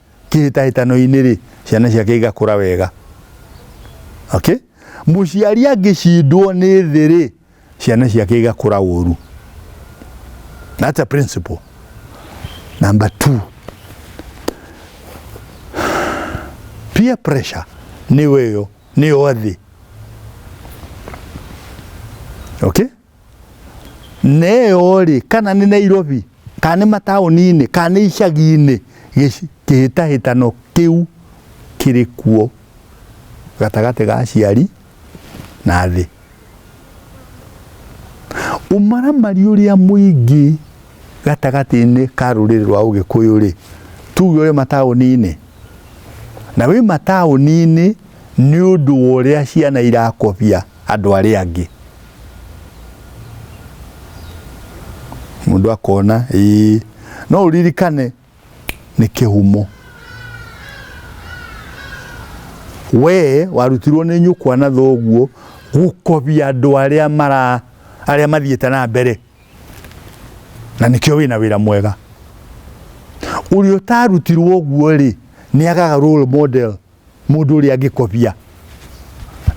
kĩhĩtahĩtano-inĩ rĩ ciana ciake igakũra wega okay? mũciari angĩcindwo nĩ thĩ rĩ ciana ciake igakũra ũru that's a principle number two peer pressure nĩyo ĩyo nĩyo thĩ okay? neyo-rĩ kana nĩ Nairobi kana nĩ mataũni-inĩ kana nĩ icagi-inĩ kĩhĩtahĩtano kĩu kĩrĩ kuo gatagatĩ ga aciari na thĩ. Ũmaramari ũrĩa mũingĩ gatagatĩ-inĩ ka rũrĩrĩ rwa Ũgĩkũyũ-rĩ, tuge ũrĩ mataũni-inĩ, na wĩ mataũni-inĩ nĩ ũndũ wa ũrĩa ciana irakobia andũ arĩa angĩ. mũndũ akona ĩĩ no ũririkane nĩ kĩhumo we warutirwo nĩ nyũkwa na thoguo gũkobia andũ arĩa mara arĩa mathiĩte na mbere na nĩkĩo wĩna wĩra mwega ũrĩa ũtarutirwo ũguo rĩ nĩ agaga role model Mũndũ ũrĩa angĩkobia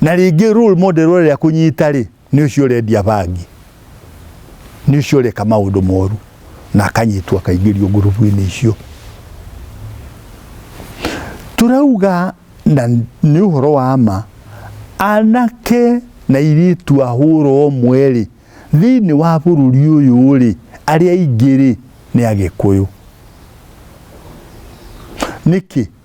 na rĩngĩ role model ũrĩa kũnyita rĩ nĩ ũcio ũrendia bangi nĩ ũcio ũreka maũndũ moru na akanyitwo akaingĩrio ngurubu-inĩ icio turauga na nĩ ũhoro wa ma anake na irĩtu ahũra ũmwe rĩ thĩinĩ wa bũrũri ũyũ rĩ arĩa aingĩ rĩ nĩ agĩkũyũ nĩkĩ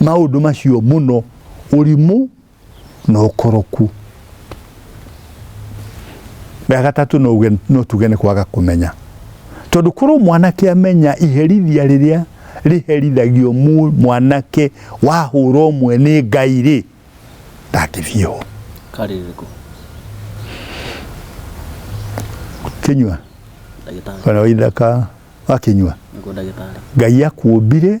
maũndũ macio mũno ũrimũ na ũkoroku rĩa gatatũ no uge- no tuge nĩ kwaga kũmenya tondũ korwo mwanake amenya iherithia rĩrĩa rĩherithagio mu- mwanake wahũra ũmwe nĩ ngai rĩ ndangĩthiĩ ho karĩrĩkũ kĩnyua ndagĩtarĩ kana waithaka wakinyua nĩguo ndagĩtarĩ ngai akuũmbire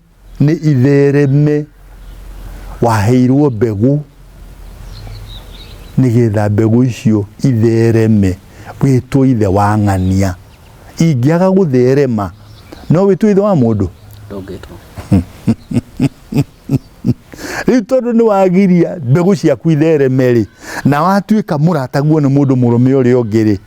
nĩ ithereme waheirwo mbegũ nĩgetha mbegũ icio ithereme wĩtwo ithe wa ng'ania ingĩaga gũtherema no wĩtwo ithe wa mũndũ ndũngĩtwo rĩu tondũ nĩ wagiria mbegũ ciaku ithereme rĩ na watuĩka mũrataguo nĩ mũndũ mũrũme ũrĩa ũngĩ rĩ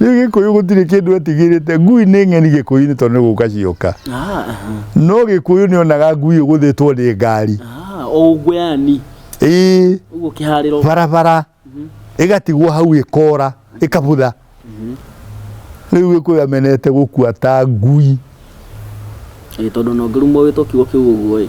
rĩu gĩkũyũ gũtirĩ kĩndũ etigĩrĩte ngui nĩ ng'eni gĩkũyũ-inĩ tondũ nĩ gũka cioka Ah, aha. no gĩkũyũ nĩ onaga ngui ũgũthĩtwo nĩ ngari Ah, o ũguo yani ĩĩ ũguo kĩharĩro barabara ĩgatigwo hau ĩkora ĩkabutha rĩu gĩkũyũ amenete gũkua ta ngui Ĩĩ, tondũ nongerumwo wĩtwo kiugo kĩu ũguo ĩ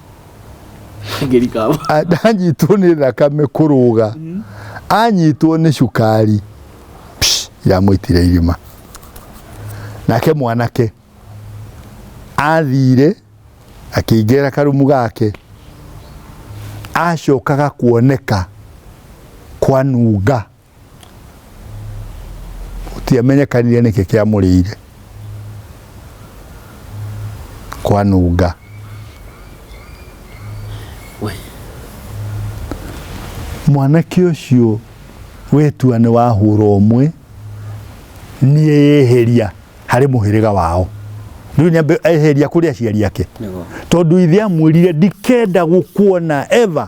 ngĩrikaba A- ndanyitwo nĩ thakame kũrũga anyitwo nĩ cukari Psh, yamwĩtire irima nake mwanake athire akĩingĩra karumu gake acokaga kuoneka kwanunga gũtiamenyekanire nĩkĩ kĩamũrĩire kwanunga We. mwanake ũcio wetua nĩ wahũra ũmwe niĩ yeheria harĩ mũhĩrĩga wao rĩu nyambe eheria kũrĩ aciari ake nĩguo tondũ ithe amwĩrire ndikenda gũkuona ever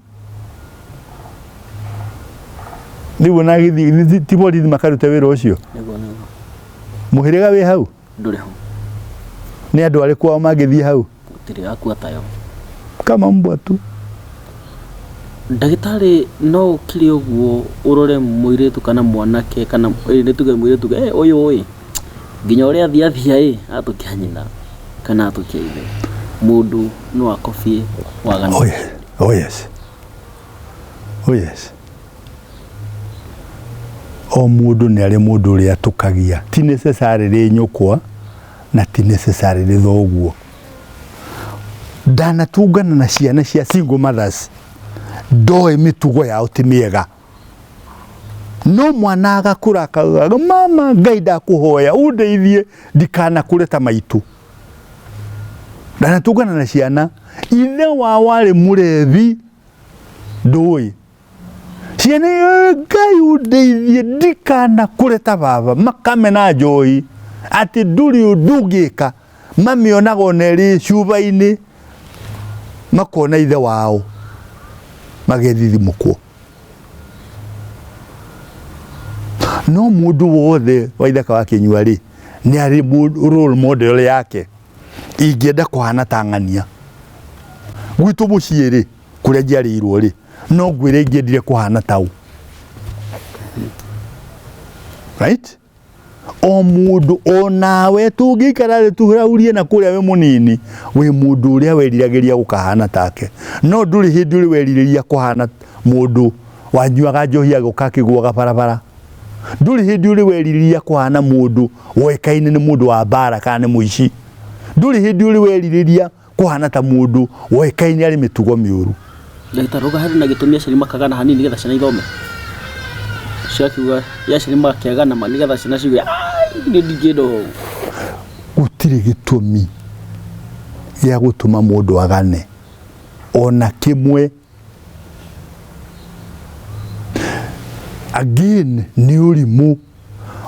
rĩu ona agĩthiĩ ti borithi makarute wĩra ũcio nĩguo nĩguo mũhĩrĩga wĩ hau ndũrĩ ho nĩ andũ arĩ kwao mangĩthiĩ hau gũtirĩ akua tayo kama mbwa tu ndagĩtarĩ no ũkire ũguo ũrore mũirĩtu kana mwanake kana ĩ, nĩ tuge mũirĩtu "Eh, ũyũ ĩ nginya ũrĩa athiathia ĩ atũkia nyina kana atũkia ithe mũndũ no akobie wagana Oye. Oh, yes. Oh, yes. O mũndũ nĩ arĩ mũndũ ũrĩa atũkagia ti necessarily nyũkwa na ti necessarily thoguo ndanatungana na ciana cia single mothers ndoĩ mĩtugo yao ti mĩega no mwana agakũra akaugaga mama ngai ndakũhoya ũndeithie ndikanakũre ta maitũ ndanatũngana na ciana ithe wa warĩ mũrethi ndũĩ ciana ĩyo ngai ũndeithie ndikana kũreta baba makamena njoi atĩ ndũrĩ ũndũ ũngĩka mamĩonaga ona ĩrĩ cuba-inĩ makona ithe wao magethithimũkwo no mũndũ wothe waithaka wa kĩnyua rĩ nĩ arĩ mũ- role model yake ingĩenda kũhana ta ng'ania gwitũ mũciĩ rĩ kũrĩa njiarĩirwo rĩ no ngwĩre ingĩendire kũhana tau right o mundu o nawe tungĩikara thĩ tũraurie na kũrĩa we mũnini wĩ mundu ũrĩa weriragĩria gũkahana take no ndũrĩ hĩndĩ ũrĩ werirĩria kũhana mundu wanyuaga njohi agĩũka akĩgũaga barabara ndũrĩ hĩndĩ ũrĩ werirĩria kũhana mundu woĩkaine nĩ mundu wa mbara kana nĩ mũici ndũrĩ hĩndĩ ũrĩ werirĩria kũhana ta mũndũ woĩkaine arĩ mĩtugo mĩũru Ndagĩtarĩ rauga harĩ na gĩtũmi aciari makagana hanini nĩgetha ciana ithome. Ũcio akiuga "Rĩrĩa aciari makĩagana ma nĩgetha ciana ciuge "Ai, niĩ ndingĩenda ũũ." gũtirĩ gĩtũmi gĩa gũtũma mũndũ agane ona kĩmwe again nĩ ũrimũ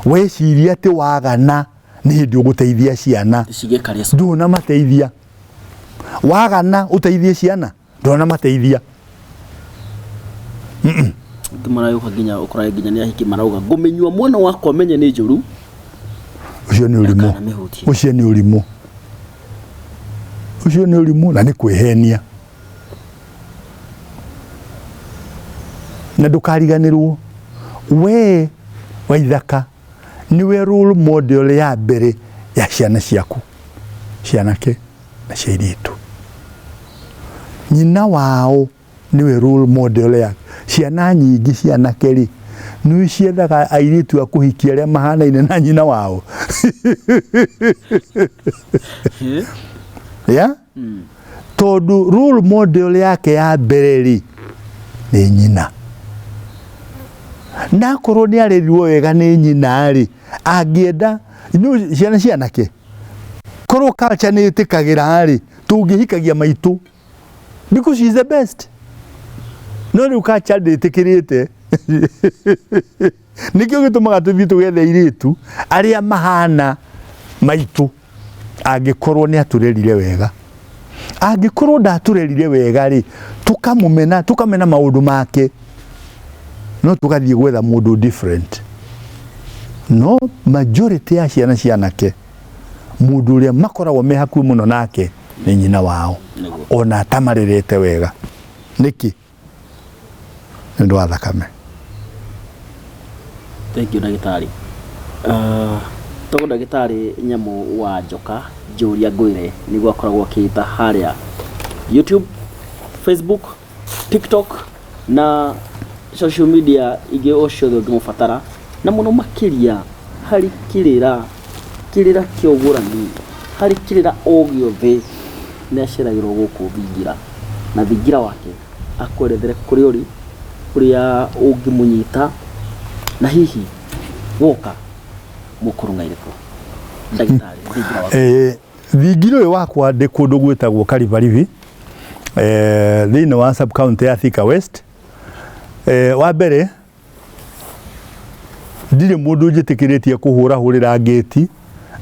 weciria atĩ wagana nĩ hĩndĩ ũgũteithia ciana ndũnamateithia wagana ũteithie ciana ndũnamateithia marauga nginya ũkoraga nginya nĩ ahiki marauga ngũmĩnyua mwana wakwa menye nĩ njũru ucio ni urimu ucio ni urimu ucio ni urimu na ni kwihenia na ndukariganirwo we waithaka nĩwe role model ya mbere ya ciana ciaku cianake na cia irĩtu nyina wao nĩwe role model ya ciana nyingĩ cianake rĩ nĩ ciethaga airĩtu a kũhikia arĩa mahanaine na nyina wao yeah? mm. tondu role model yake ya mbere ri ni nyina na korwo ni arerirwo wega ni nyina ri angienda inu ciana cianake korwo culture ni itikagira ri tungihikagia maitu because she is the best no riu culture nditikirite nĩkĩo gĩtũmaga tũthiĩ tũgethe airĩtu arĩa mahana maitũ angĩkorwo nĩ atũrerire wega angĩkorwo ndatũrerire wega rĩ tũkamũmena tũkamena maũndũ make no tũgathiĩ gwetha mũndũ different no majority ya ciana cianake mũndũ ũrĩa makoragwo me hakuhĩ mũno nake nĩ nyina wao ona atamarerete wega nĩkĩ nĩ ũndũ wa thakame thank you ndagĩtarĩ Ah, to ndagĩtarĩ nyamũ wa njoka njũria ngwĩre nĩguo akoragwo akĩĩta harĩa youtube facebook tiktok na social media ingĩ o ciothe ũngĩmũbatara na mũno makĩria harĩ kĩrĩra Kĩrĩra kĩa ũgũrani, Harĩ kĩrĩra o gĩothe nĩ aceragĩrwo gũkũ thingira, na thingira wake akwerethere kũrĩa ũrĩ, kũrĩa ũngĩmũnyita, na hihi woka mũkũrũng'aire kũ. Ndagĩtarĩ, thingira waku. Eh, thingira ũyũ wakwa ndĩ kũndũ gwĩtagwo Karibaribi eh, thĩinĩ wa sub county ya Thika West eh, wa mbere ndirĩ mũndũ njĩtĩkĩrĩtie kũhũra hũrĩra ngĩti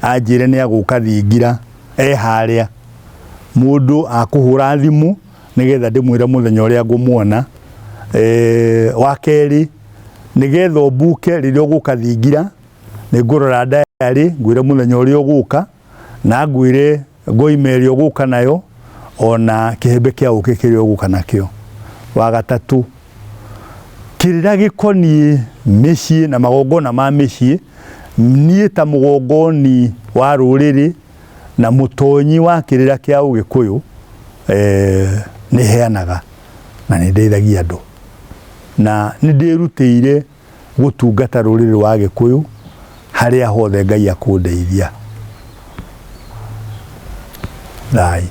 anjĩre nĩ agũka thingira e harĩa mũndũ akũhũra thimũ nĩgetha ndĩmwĩre mũthenya ũrĩa ngũmuona eh, wa kerĩ nĩgetha ũmbuke rĩrĩa ũgũka thingira nĩ ngũrora ndayarĩ ngwĩre mũthenya ũrĩa ũgũka na ngwĩre ngoima ĩrĩa ũgũka nayo o na kĩhembe kĩa ũkĩ kĩrĩa ũgũka nakĩo. Wa gatatũ, kĩrĩa gĩkoniĩ mĩciĩ na magongona ma mĩciĩ, niĩ ta mũgongoni wa rũrĩrĩ na mũtonyi wa kĩrĩra kĩa ũgĩkũyũ eh, nĩ heanaga na nĩ ndeithagia andũ na nĩ ndĩrutĩire gũtungata rũrĩrĩ rwa Agĩkũyũ harĩa hothe Ngai akũndeithia. Thai.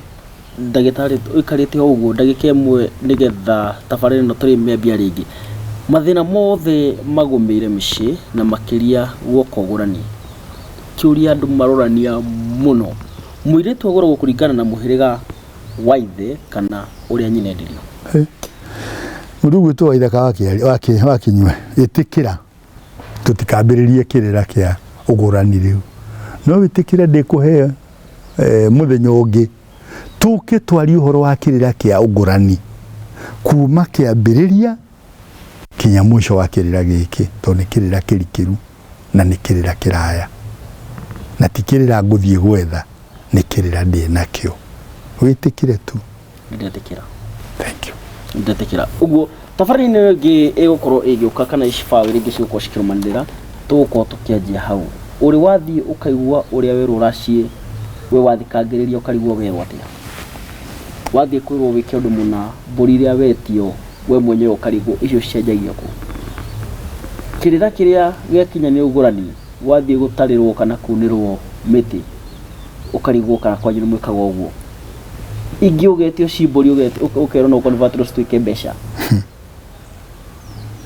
ndagĩtarĩ ũikarĩte o ũguo ndagĩka ĩmwe nĩgetha tabarĩra ĩno tũrĩmĩambia rĩngĩ mathĩna mothe magũmĩire mĩciĩ na makĩria guoka ũgũrani kĩũria andũ marorania mũno mũirĩtu agũragwo kũringana na mũhĩrĩga Waithe kana ũrĩa nyinendirio. Mũndũ gwitũ waithe ka wakinywe ĩtĩkĩra tũtikambĩrĩrie kĩrĩra kĩa ũgũrani rĩu no wĩtĩkĩre ndĩkũhe eh, mũthenya ũngĩ tũke twarie ũhoro wa kĩrĩra kĩa ũgũrani kuma kĩambĩrĩria Kinya mũico wa kĩrĩra gĩkĩ, tondũ nĩ kĩrĩra kĩrikĩru na nĩ kĩrĩra kĩraya. Na ti kĩrĩra ngũthiĩ gwetha, nĩ kĩrĩra ndĩ nakĩo. Wĩtĩkĩre tu. Ndetĩkĩra. Thank you. Ndetĩkĩra. Ũguo, tabarĩra-inĩ ĩyo ĩngĩ ĩgũkorwo ĩgĩũka kana ici bao iria ingĩ cigũkorwo cikĩrũmanĩrĩra, tũgũkorwo tũkĩanjia hau. Ũrĩ wathiĩ ũkaigua ũrĩa werwo ũraciĩ, we wathikangĩrĩria ũkarigwo werwo atĩa? Wathiĩ kwĩrwo wĩke ũndũ mũna, mbũri ĩrĩa wetio, we mwenyewe ũkarigwo icio cicenjagia kũ. Kĩrĩra kĩrĩa gĩakinya nĩ ũgũrani wathiĩ gũtarĩrwo kana kunĩrwo mĩtĩ ũkarigwo kana kwanyu nĩ mwĩkaga ũguo. Ingĩ ũgetio cimbũri ũkerwo no convertwo cituĩke mbeca.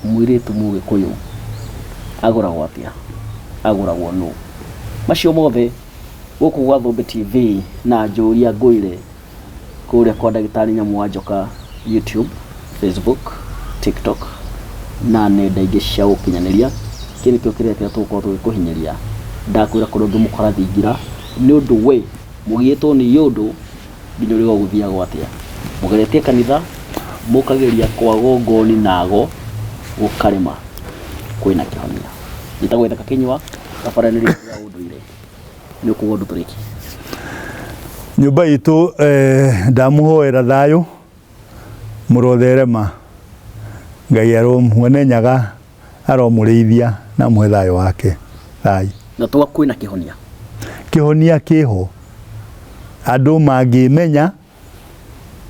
Mũirĩtu mũgĩkũyũ agũragwo atĩa? Agũragwo nũ? Macio mothe gũkũ gwa Thũmbĩ TV na njũria ngũire kũrĩa kwa ndagĩtarĩ nyamũ wa njoka YouTube, Facebook, TikTok na nenda ingĩ cia ũkinyanĩria kĩu nĩkĩo kĩrĩa kĩrĩa tũgũkorwo tũgĩkũhinyĩria ndakwĩra kũrĩa ũngĩmũkora thingira nĩ ũndũ we mũgiyĩtwo nĩ yũndũ nginya ũrĩga ũgũthiaga gwatĩa mũgeretie kanitha mũkageria kwago ngoni nago gũkarema kwĩna kĩhonia njĩtagwo ithaka kĩnyua thabarĩrĩ ya ũndũire nĩ ũkuga ũndũ tũrĩki nyũmba itũ eh, ndamũhoera thayũ mũrotherema ngai aromwene nyaga aromũrĩithia na mũhe thayũ wake thai na twa kwĩna kĩhonia kĩhonia kĩho andũ mangĩmenya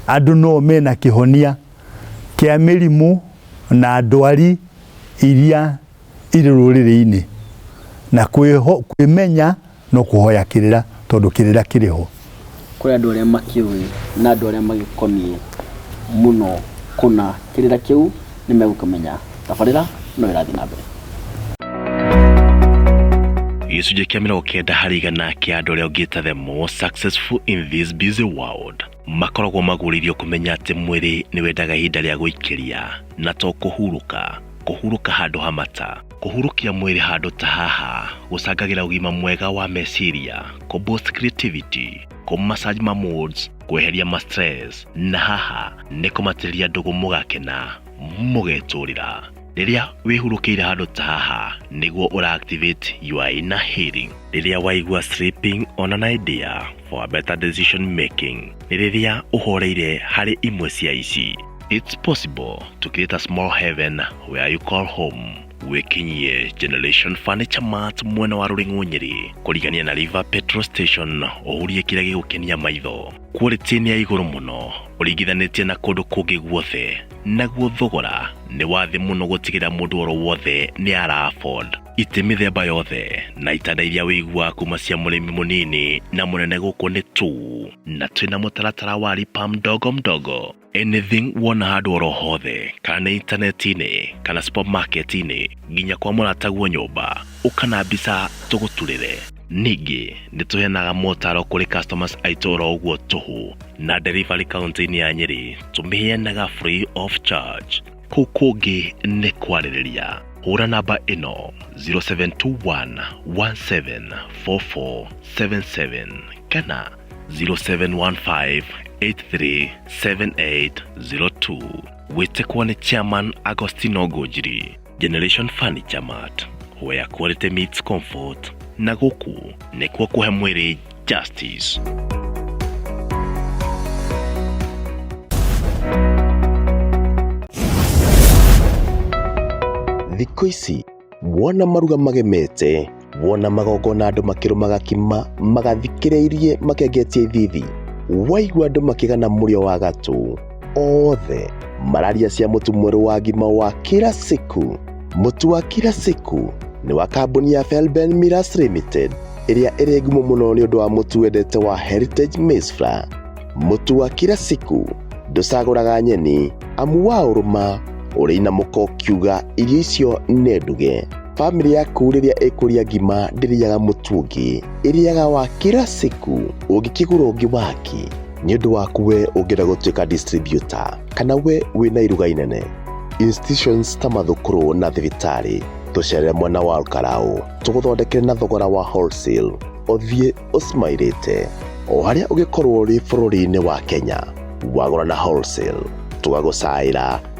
andũ no mena kĩhonia kĩa mĩrimũ na ndwari iria irĩ rũrĩrĩ-inĩ na kwĩho- kwĩmenya no kũhoya kĩrĩra tondũ kĩrĩra kĩrĩ ho kũrĩ andũ arĩa makĩũĩ na andũ arĩa magĩkoniĩ mũno kũna kĩrĩra kĩu nĩ megũkĩmenya tabarĩra no ĩrathiĩ na mbere gĩcunjĩ kĩa mĩrongo kenda harĩ igana kĩa andũ arĩa ũngĩta the most successful in this busy world makoragwo magũrĩirio kũmenya atĩ mwĩrĩ nĩ wendaga ihinda rĩa gũikĩria na to kũhurũka kũhurũka handũ ha mata kũhurũkia mwĩrĩ handũ ta haha gũcangagĩra ũgima mwega wa meciria kũ boost creativity kũ massage ma moods kweheria ma stress na haha nĩ kũmatĩrĩria ndũgũ mũgakena mũgetũrĩra rĩrĩa wĩhurũkĩire handũ ta haha nĩguo ũra activate your inner healing rĩrĩa waigua sleeping ona na idea for better decision making nĩ rĩrĩa ũhoreire harĩ imwe cia ici It's possible to create a small heaven where you call home wĩkinyie Generation Furniture Mart mwena wa Rũring'ũ Nyĩrĩ kũrigania na River Petrol Station ũhurie kĩrĩa gĩgũkenia maitho quality nĩ ya igũrũ mũno ũringithanĩtie na kũndũ kũngĩ guothe naguo thogora nĩ wa thĩ mũno gũtigĩrĩra mũndũ oro wothe nĩ ara afford itĩ mĩthemba yothe na itanda iria wĩiguaga kuma cia mũrĩmi mũnini na mũnene gũkũ nĩ tu na twĩna mũtaratara wa lipa mdogo mdogo anything wona handũ oro hothe kana nĩ intaneti-inĩ kana supermarket-inĩ nginya kwa mũrataguo nyũmba ũka na mbica tũgũturĩre ningĩ nĩ tũheanaga motaro kũrĩ customers aitũ oro ũguo tũhũ na delivery kaunti-inĩ ya nyĩrĩ tũmĩheanaga free of charge Kũu kũngĩ nĩ kwarĩrĩria. Hũra namba ĩno 0721 174477 kana 0715 837802 gwĩtĩkwo nĩ chairman Agostino Ngũnjiri. Generation Furniture Mart where quality meets comfort na gũkũ nĩkuo kũhe mwĩrĩ Justice. thikũ ici wona maruga magemete wona magongona andũ makĩrũmaga kima magathikĩrĩirie makengetie ithithi waigua andũ makĩgana mũrĩo wa gatũ othe mararia cia mũtu mwerũ wa ngima wa kila siku mũtu wa kila siku nĩ wa kambuni ya felben miras limited ĩrĩa ĩrĩ ngumo mũno nĩ ũndũ wa mũtu wendete wa heritage maize flour mũtu wa kila siku ndũcagũraga nyeni amu wa ũrũma ũrĩ inamũko ũkiuga irio icio nĩ nduge bamĩrĩ yaku rĩrĩa ĩkũrĩa ngima ndĩrĩaga mũtu ũngĩ ĩrĩaga wa kila siku ũngĩkĩgũra ũngĩ wake nĩ ũndũ waku we ũngĩenda gũtuĩka distributor kana we wĩna iruga inene institutions ta mathukuru na thibitarĩ tũcerere mwena wa Olkalau tũgũthondekere na thogora wa wholesale ũthiĩ ũsmairĩte o harĩa ũgĩkorwo ũrĩ bũrũri-inĩ wa Kenya wagũra na wholesale tũgagũcaĩra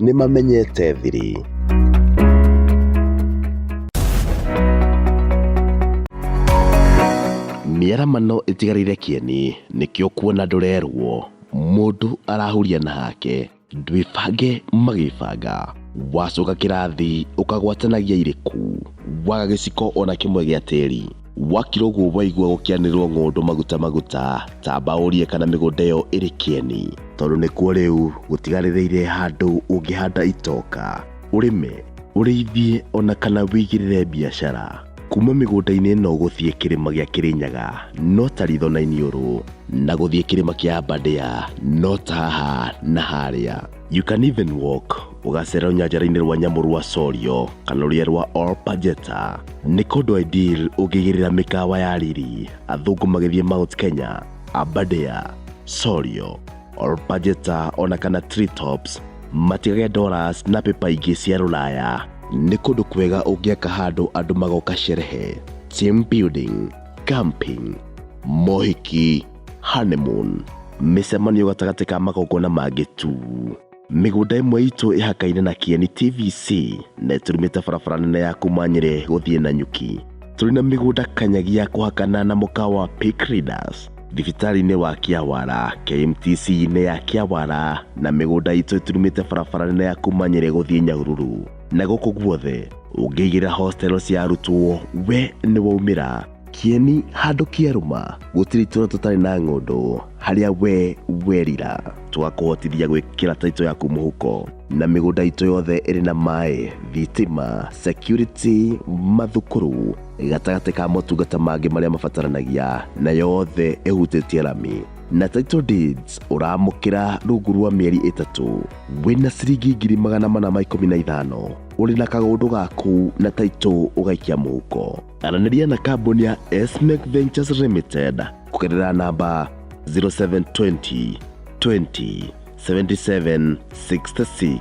nĩ mamenyete thiri. Mĩaramano ĩtigarĩire kĩeni, nĩkĩo kuona ndũrerwo. Mũndũ arahuria na hake, ndwĩbange magĩbanga. Wacoka kĩrathi ũkagwatanagia irĩku, waga gĩciko ona kĩmwe gĩa tĩri. Wakira ũguo waigua gũkĩanĩrĩrwo ng'ũndũ maguta maguta, tamba ũrie kana mĩgũnda ĩyo ĩrĩ kĩeni. Tondũ nĩkuo rĩu gũtigarĩrĩire handũ ũngĩhanda itoka, ũrĩme, ũrĩithie ona kana wĩigĩrĩre biacara. Kuma mĩgũnda-inĩ ĩno gũthiĩ kĩrĩma gĩa Kĩrĩnyaga no ta ritho na iniũrũ, na gũthiĩ kĩrĩma kĩa Aberdare no ta haha na harĩa. You can even walk ũgacera rũnyanjara-inĩ rwa nyamũ rwa Sorio kana rũrĩa rwa Olpajeta nĩ kũndũ ideal ũngĩgerera mĩkawa ya riri athũngũ magĩthiĩ Mount Kenya, Aberdare, Sorio, Olpajeta ona kana Treetops matigage dollars na pepa ingĩ cia rũraya nĩ kũndũ kwega ũngĩaka handũ andũ magoka sherehe, team building, camping, mohiki Honeymoon, mĩcemanio gatagatĩ ka magongona mangĩ tu. Mĩgũnda ĩmwe itũ ĩhakaine na Kieni TVC na ĩturumĩte barabara nene ya kuma Nyĩrĩ gũthiĩ Nanyuki. Tũrĩ na mĩgũnda kanyagi ya kũhakana na mũkawa wa Peak Readers, thibitarĩ-inĩ wa Kĩawara, KMTC-inĩ ya Kĩawara na mĩgũnda itũ ĩturumĩte barabara nene ya kuma Nyĩrĩ gũthiĩ Nyahururu. Na gũkũ guothe ũngĩigĩrĩra hostel cia arutwo we nĩ waumĩra. Kĩeni handũ kĩarũma gũtirĩ itũra tũtarĩ na ng'ũndũ harĩa we werira twakũhotithia gwĩkĩra taito yaku mũhuko na mĩgũnda itũ yothe ĩrĩ na maĩ thitima security mathukuru gatagatĩ ka motungata mangĩ marĩa mabataranagia na yothe ĩhutĩtie rami na title deeds ũramũkĩra rungu rwa mĩeri ĩtatũ wĩna ciringi ngiri magana mana ma ikũmi na ithano ũrĩ na kagũndũ gaku na taito ũgaikia mũhuko Aranĩria na kambuni ya Esmec Ventures Limited kũgerera namba 0720 20 77 66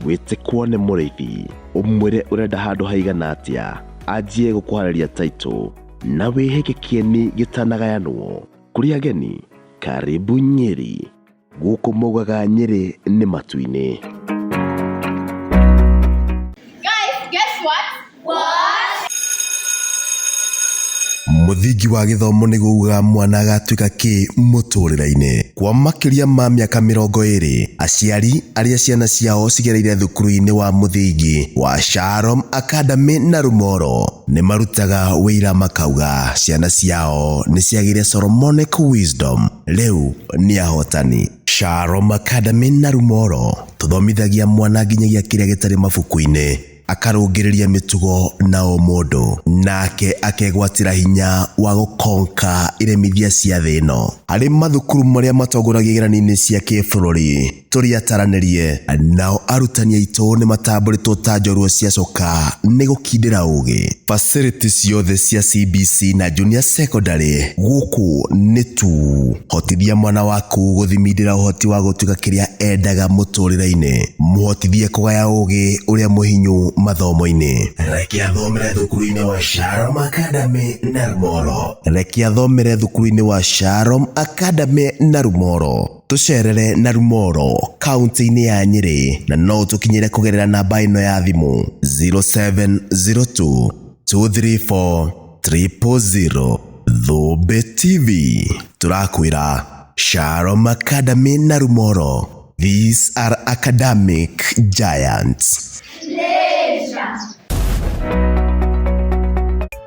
wĩte kuone mũrĩithi ũmwĩre ũrenda handũ haigana atĩa anjie gũkũharĩria taitũ na wĩhe gĩkĩeni gĩtanagayanwo kũrĩ ageni karibu nyeri Gũkũ maugaga Nyĩrĩ nĩ matu-inĩ. Guys, guess what? What? Mũthingi wa gĩthomo nĩ gũuga mwana agatuĩka kĩ mũtũrĩre-inĩ. Kwa makĩria ma mĩaka mĩrongo ĩrĩ, aciari arĩa ciana ciao cigereire thukuru-inĩ wa mũthingi wa Shalom Academy na Rumoro nĩ marutaga ũira makauga ciana ciao nĩ ciagĩire Solomonic Wisdom. Rĩu nĩ ahotani. Shalom Academy na Rumoro tũthomithagia mwana nginyagia kĩrĩa gĩtarĩ mabuku-inĩ, akarũngĩrĩria mĩtugo na ũmũndũ, nake akegwatĩra hinya wa gũkonka iremithia cia thĩ ĩno. Harĩ mathukuru marĩa matongoragia igeranio-inĩ cia kĩbũrũri, tũrĩataranĩrie. Nao arutani aitũ nĩ matambũrĩtwo ta njorua ciacoka nĩ gũkindĩra ũgĩ. Facility ciothe cia CBC na Junior Secondary gũkũ nĩ tu. Hotithia mwana waku gũthimindĩra ũhoti wa gũtuĩka kĩrĩa endaga mũtũrĩre-inĩ. Mũhotithie kũgaya ũgĩ ũrĩa mũhinyu mathomo-inĩ. Reke athomere thukuru-inĩ wa Sharom Academy Narmoro. Reke athomere thukuru-inĩ wa Sharom Academy Narmoro. Tũcerere na Rumoro kaunti-inĩ ya Nyĩrĩ na no ũtũkinyĩre kũgerera namba ĩno ya thimũ 0702 234 000. Thũmbĩ TV tũrakwĩra Shalom Academy na Rumoro. These are academic giants.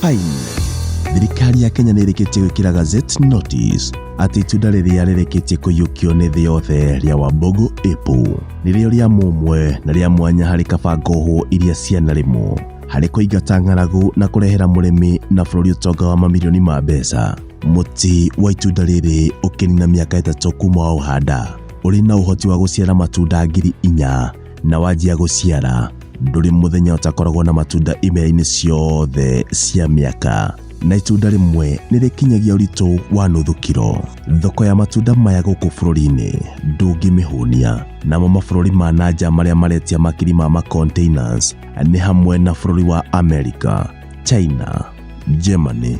Fine. Thirikari ya Kenya nĩ ĩrĩkĩtie gwĩkĩra Gazette Notice atĩ itunda rĩrĩa rĩrĩkĩtie kũiyũkio nĩ thĩ yothe rĩa Wambogo Apple nĩrĩo rĩa mũmwe na rĩa mwanya harĩ kabango hũ iria cianarĩmwo harĩ kũingata ng'aragu na kũrehera mũrĩmi na bũrũri ũtonga wa mamirioni ma mbeca. Mũtĩ wa itunda rĩrĩ ũkĩnina mĩaka ĩtatũ kuma wa ũhanda ũrĩ na ũhoti wa gũciara matunda ngiri inya na wanjia gũciara ndũrĩ mũthenya ũtakoragwo na matunda imera-inĩ ciothe cia mĩaka na itunda rĩmwe nĩ rĩkinyagia ũritũ wa nuthu kiro thoko ya matunda maya gũkũ bũrũri-inĩ ndũngĩmĩhũnia namo mabũrũri ma nanja marĩa maretia makiri ma macontainers nĩ hamwe na bũrũri wa america china germany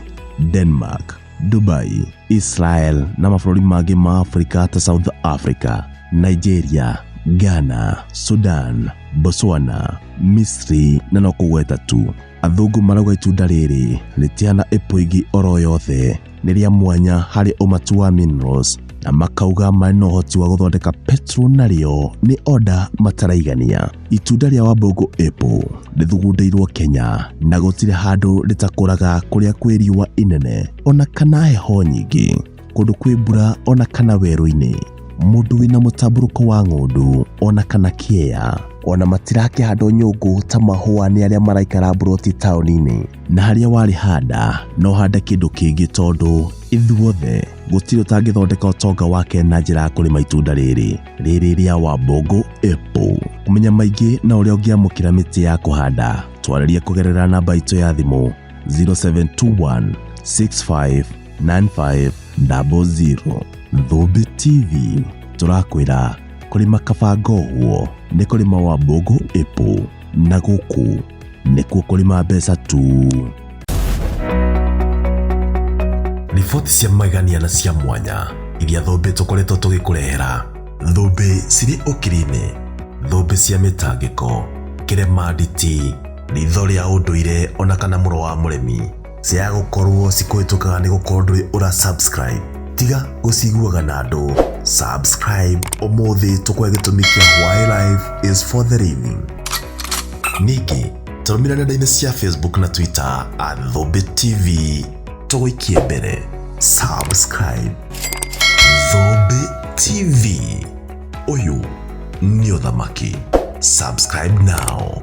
denmark Dubai, Israel na mabũrũri mangĩ ma Afrika ta South Africa, Nigeria, Ghana, Sudan, Botswana, Misri na no kũgweta tu. Athũngũ marauga itunda rĩrĩ rĩtihana apple ingĩ oro yothe, nĩ rĩa mwanya harĩ ũmatu wa minerals na makauga marĩ na ũhoti wa gũthondeka petrol narĩo nĩ oda mataraigania. Itunda rĩa Wambũngũ Apple rĩthugundĩirwo Kenya na gũtirĩ handũ rĩtakũraga kũrĩa kwĩ riũa inene ona kana heho nyingĩ, kũndũ kwĩ mbura ona kana werũ-inĩ, mũndũ wĩna mũtambũrũko wa ng'ũndũ ona kana kĩea. Ona matirakĩhandwo nyũngũ ta mahũa nĩ arĩa maraikara mburoti taũni-inĩ. Na harĩa warĩhanda no hande kĩndũ kĩngĩ tondũ ithuothe gũtirĩ ũtangĩthondeka ũtonga wake na njĩra ya kũrĩma itunda rĩrĩ. rĩrĩ rĩa Wambogo Apple. Kũmenya maingĩ na ũrĩa ũngĩamũkĩra mĩtĩ ya kũhanda, twarĩrie kũgerera namba itũ ya thimũ 0721 659500. Thũmbĩ TV tũrakwĩra kũrĩma kabangohwo nĩ kũrĩma Wambogo Apple na gũkũ nĩkuo kũrĩma mbeca tu riboti cia magania na cia mwanya iria thũmbĩ tũkoretwo tũgĩkũrehera thũmbĩ cirĩ ũkiri-inĩ thũmbĩ cia mĩtangĩko kĩremanditi ritho rĩa ũndũire ona kana mũro wa mũremi Ciaga gũkorwo cikũhĩtũkaga nĩ gũkorwo ndũrĩ ũra subscribe. Tiga gũciguaga na andũ. Subscribe ũmũthĩ tũkwe gĩtũmi kĩa why life is for the living. Ningĩ tũrũmĩrĩra nenda-inĩ cia Facebook na Twitter at Thũmbĩ TV. Tũgũikie mbere. Subscribe. Thũmbĩ TV. Ũyũ nĩ ũthamaki. Subscribe now.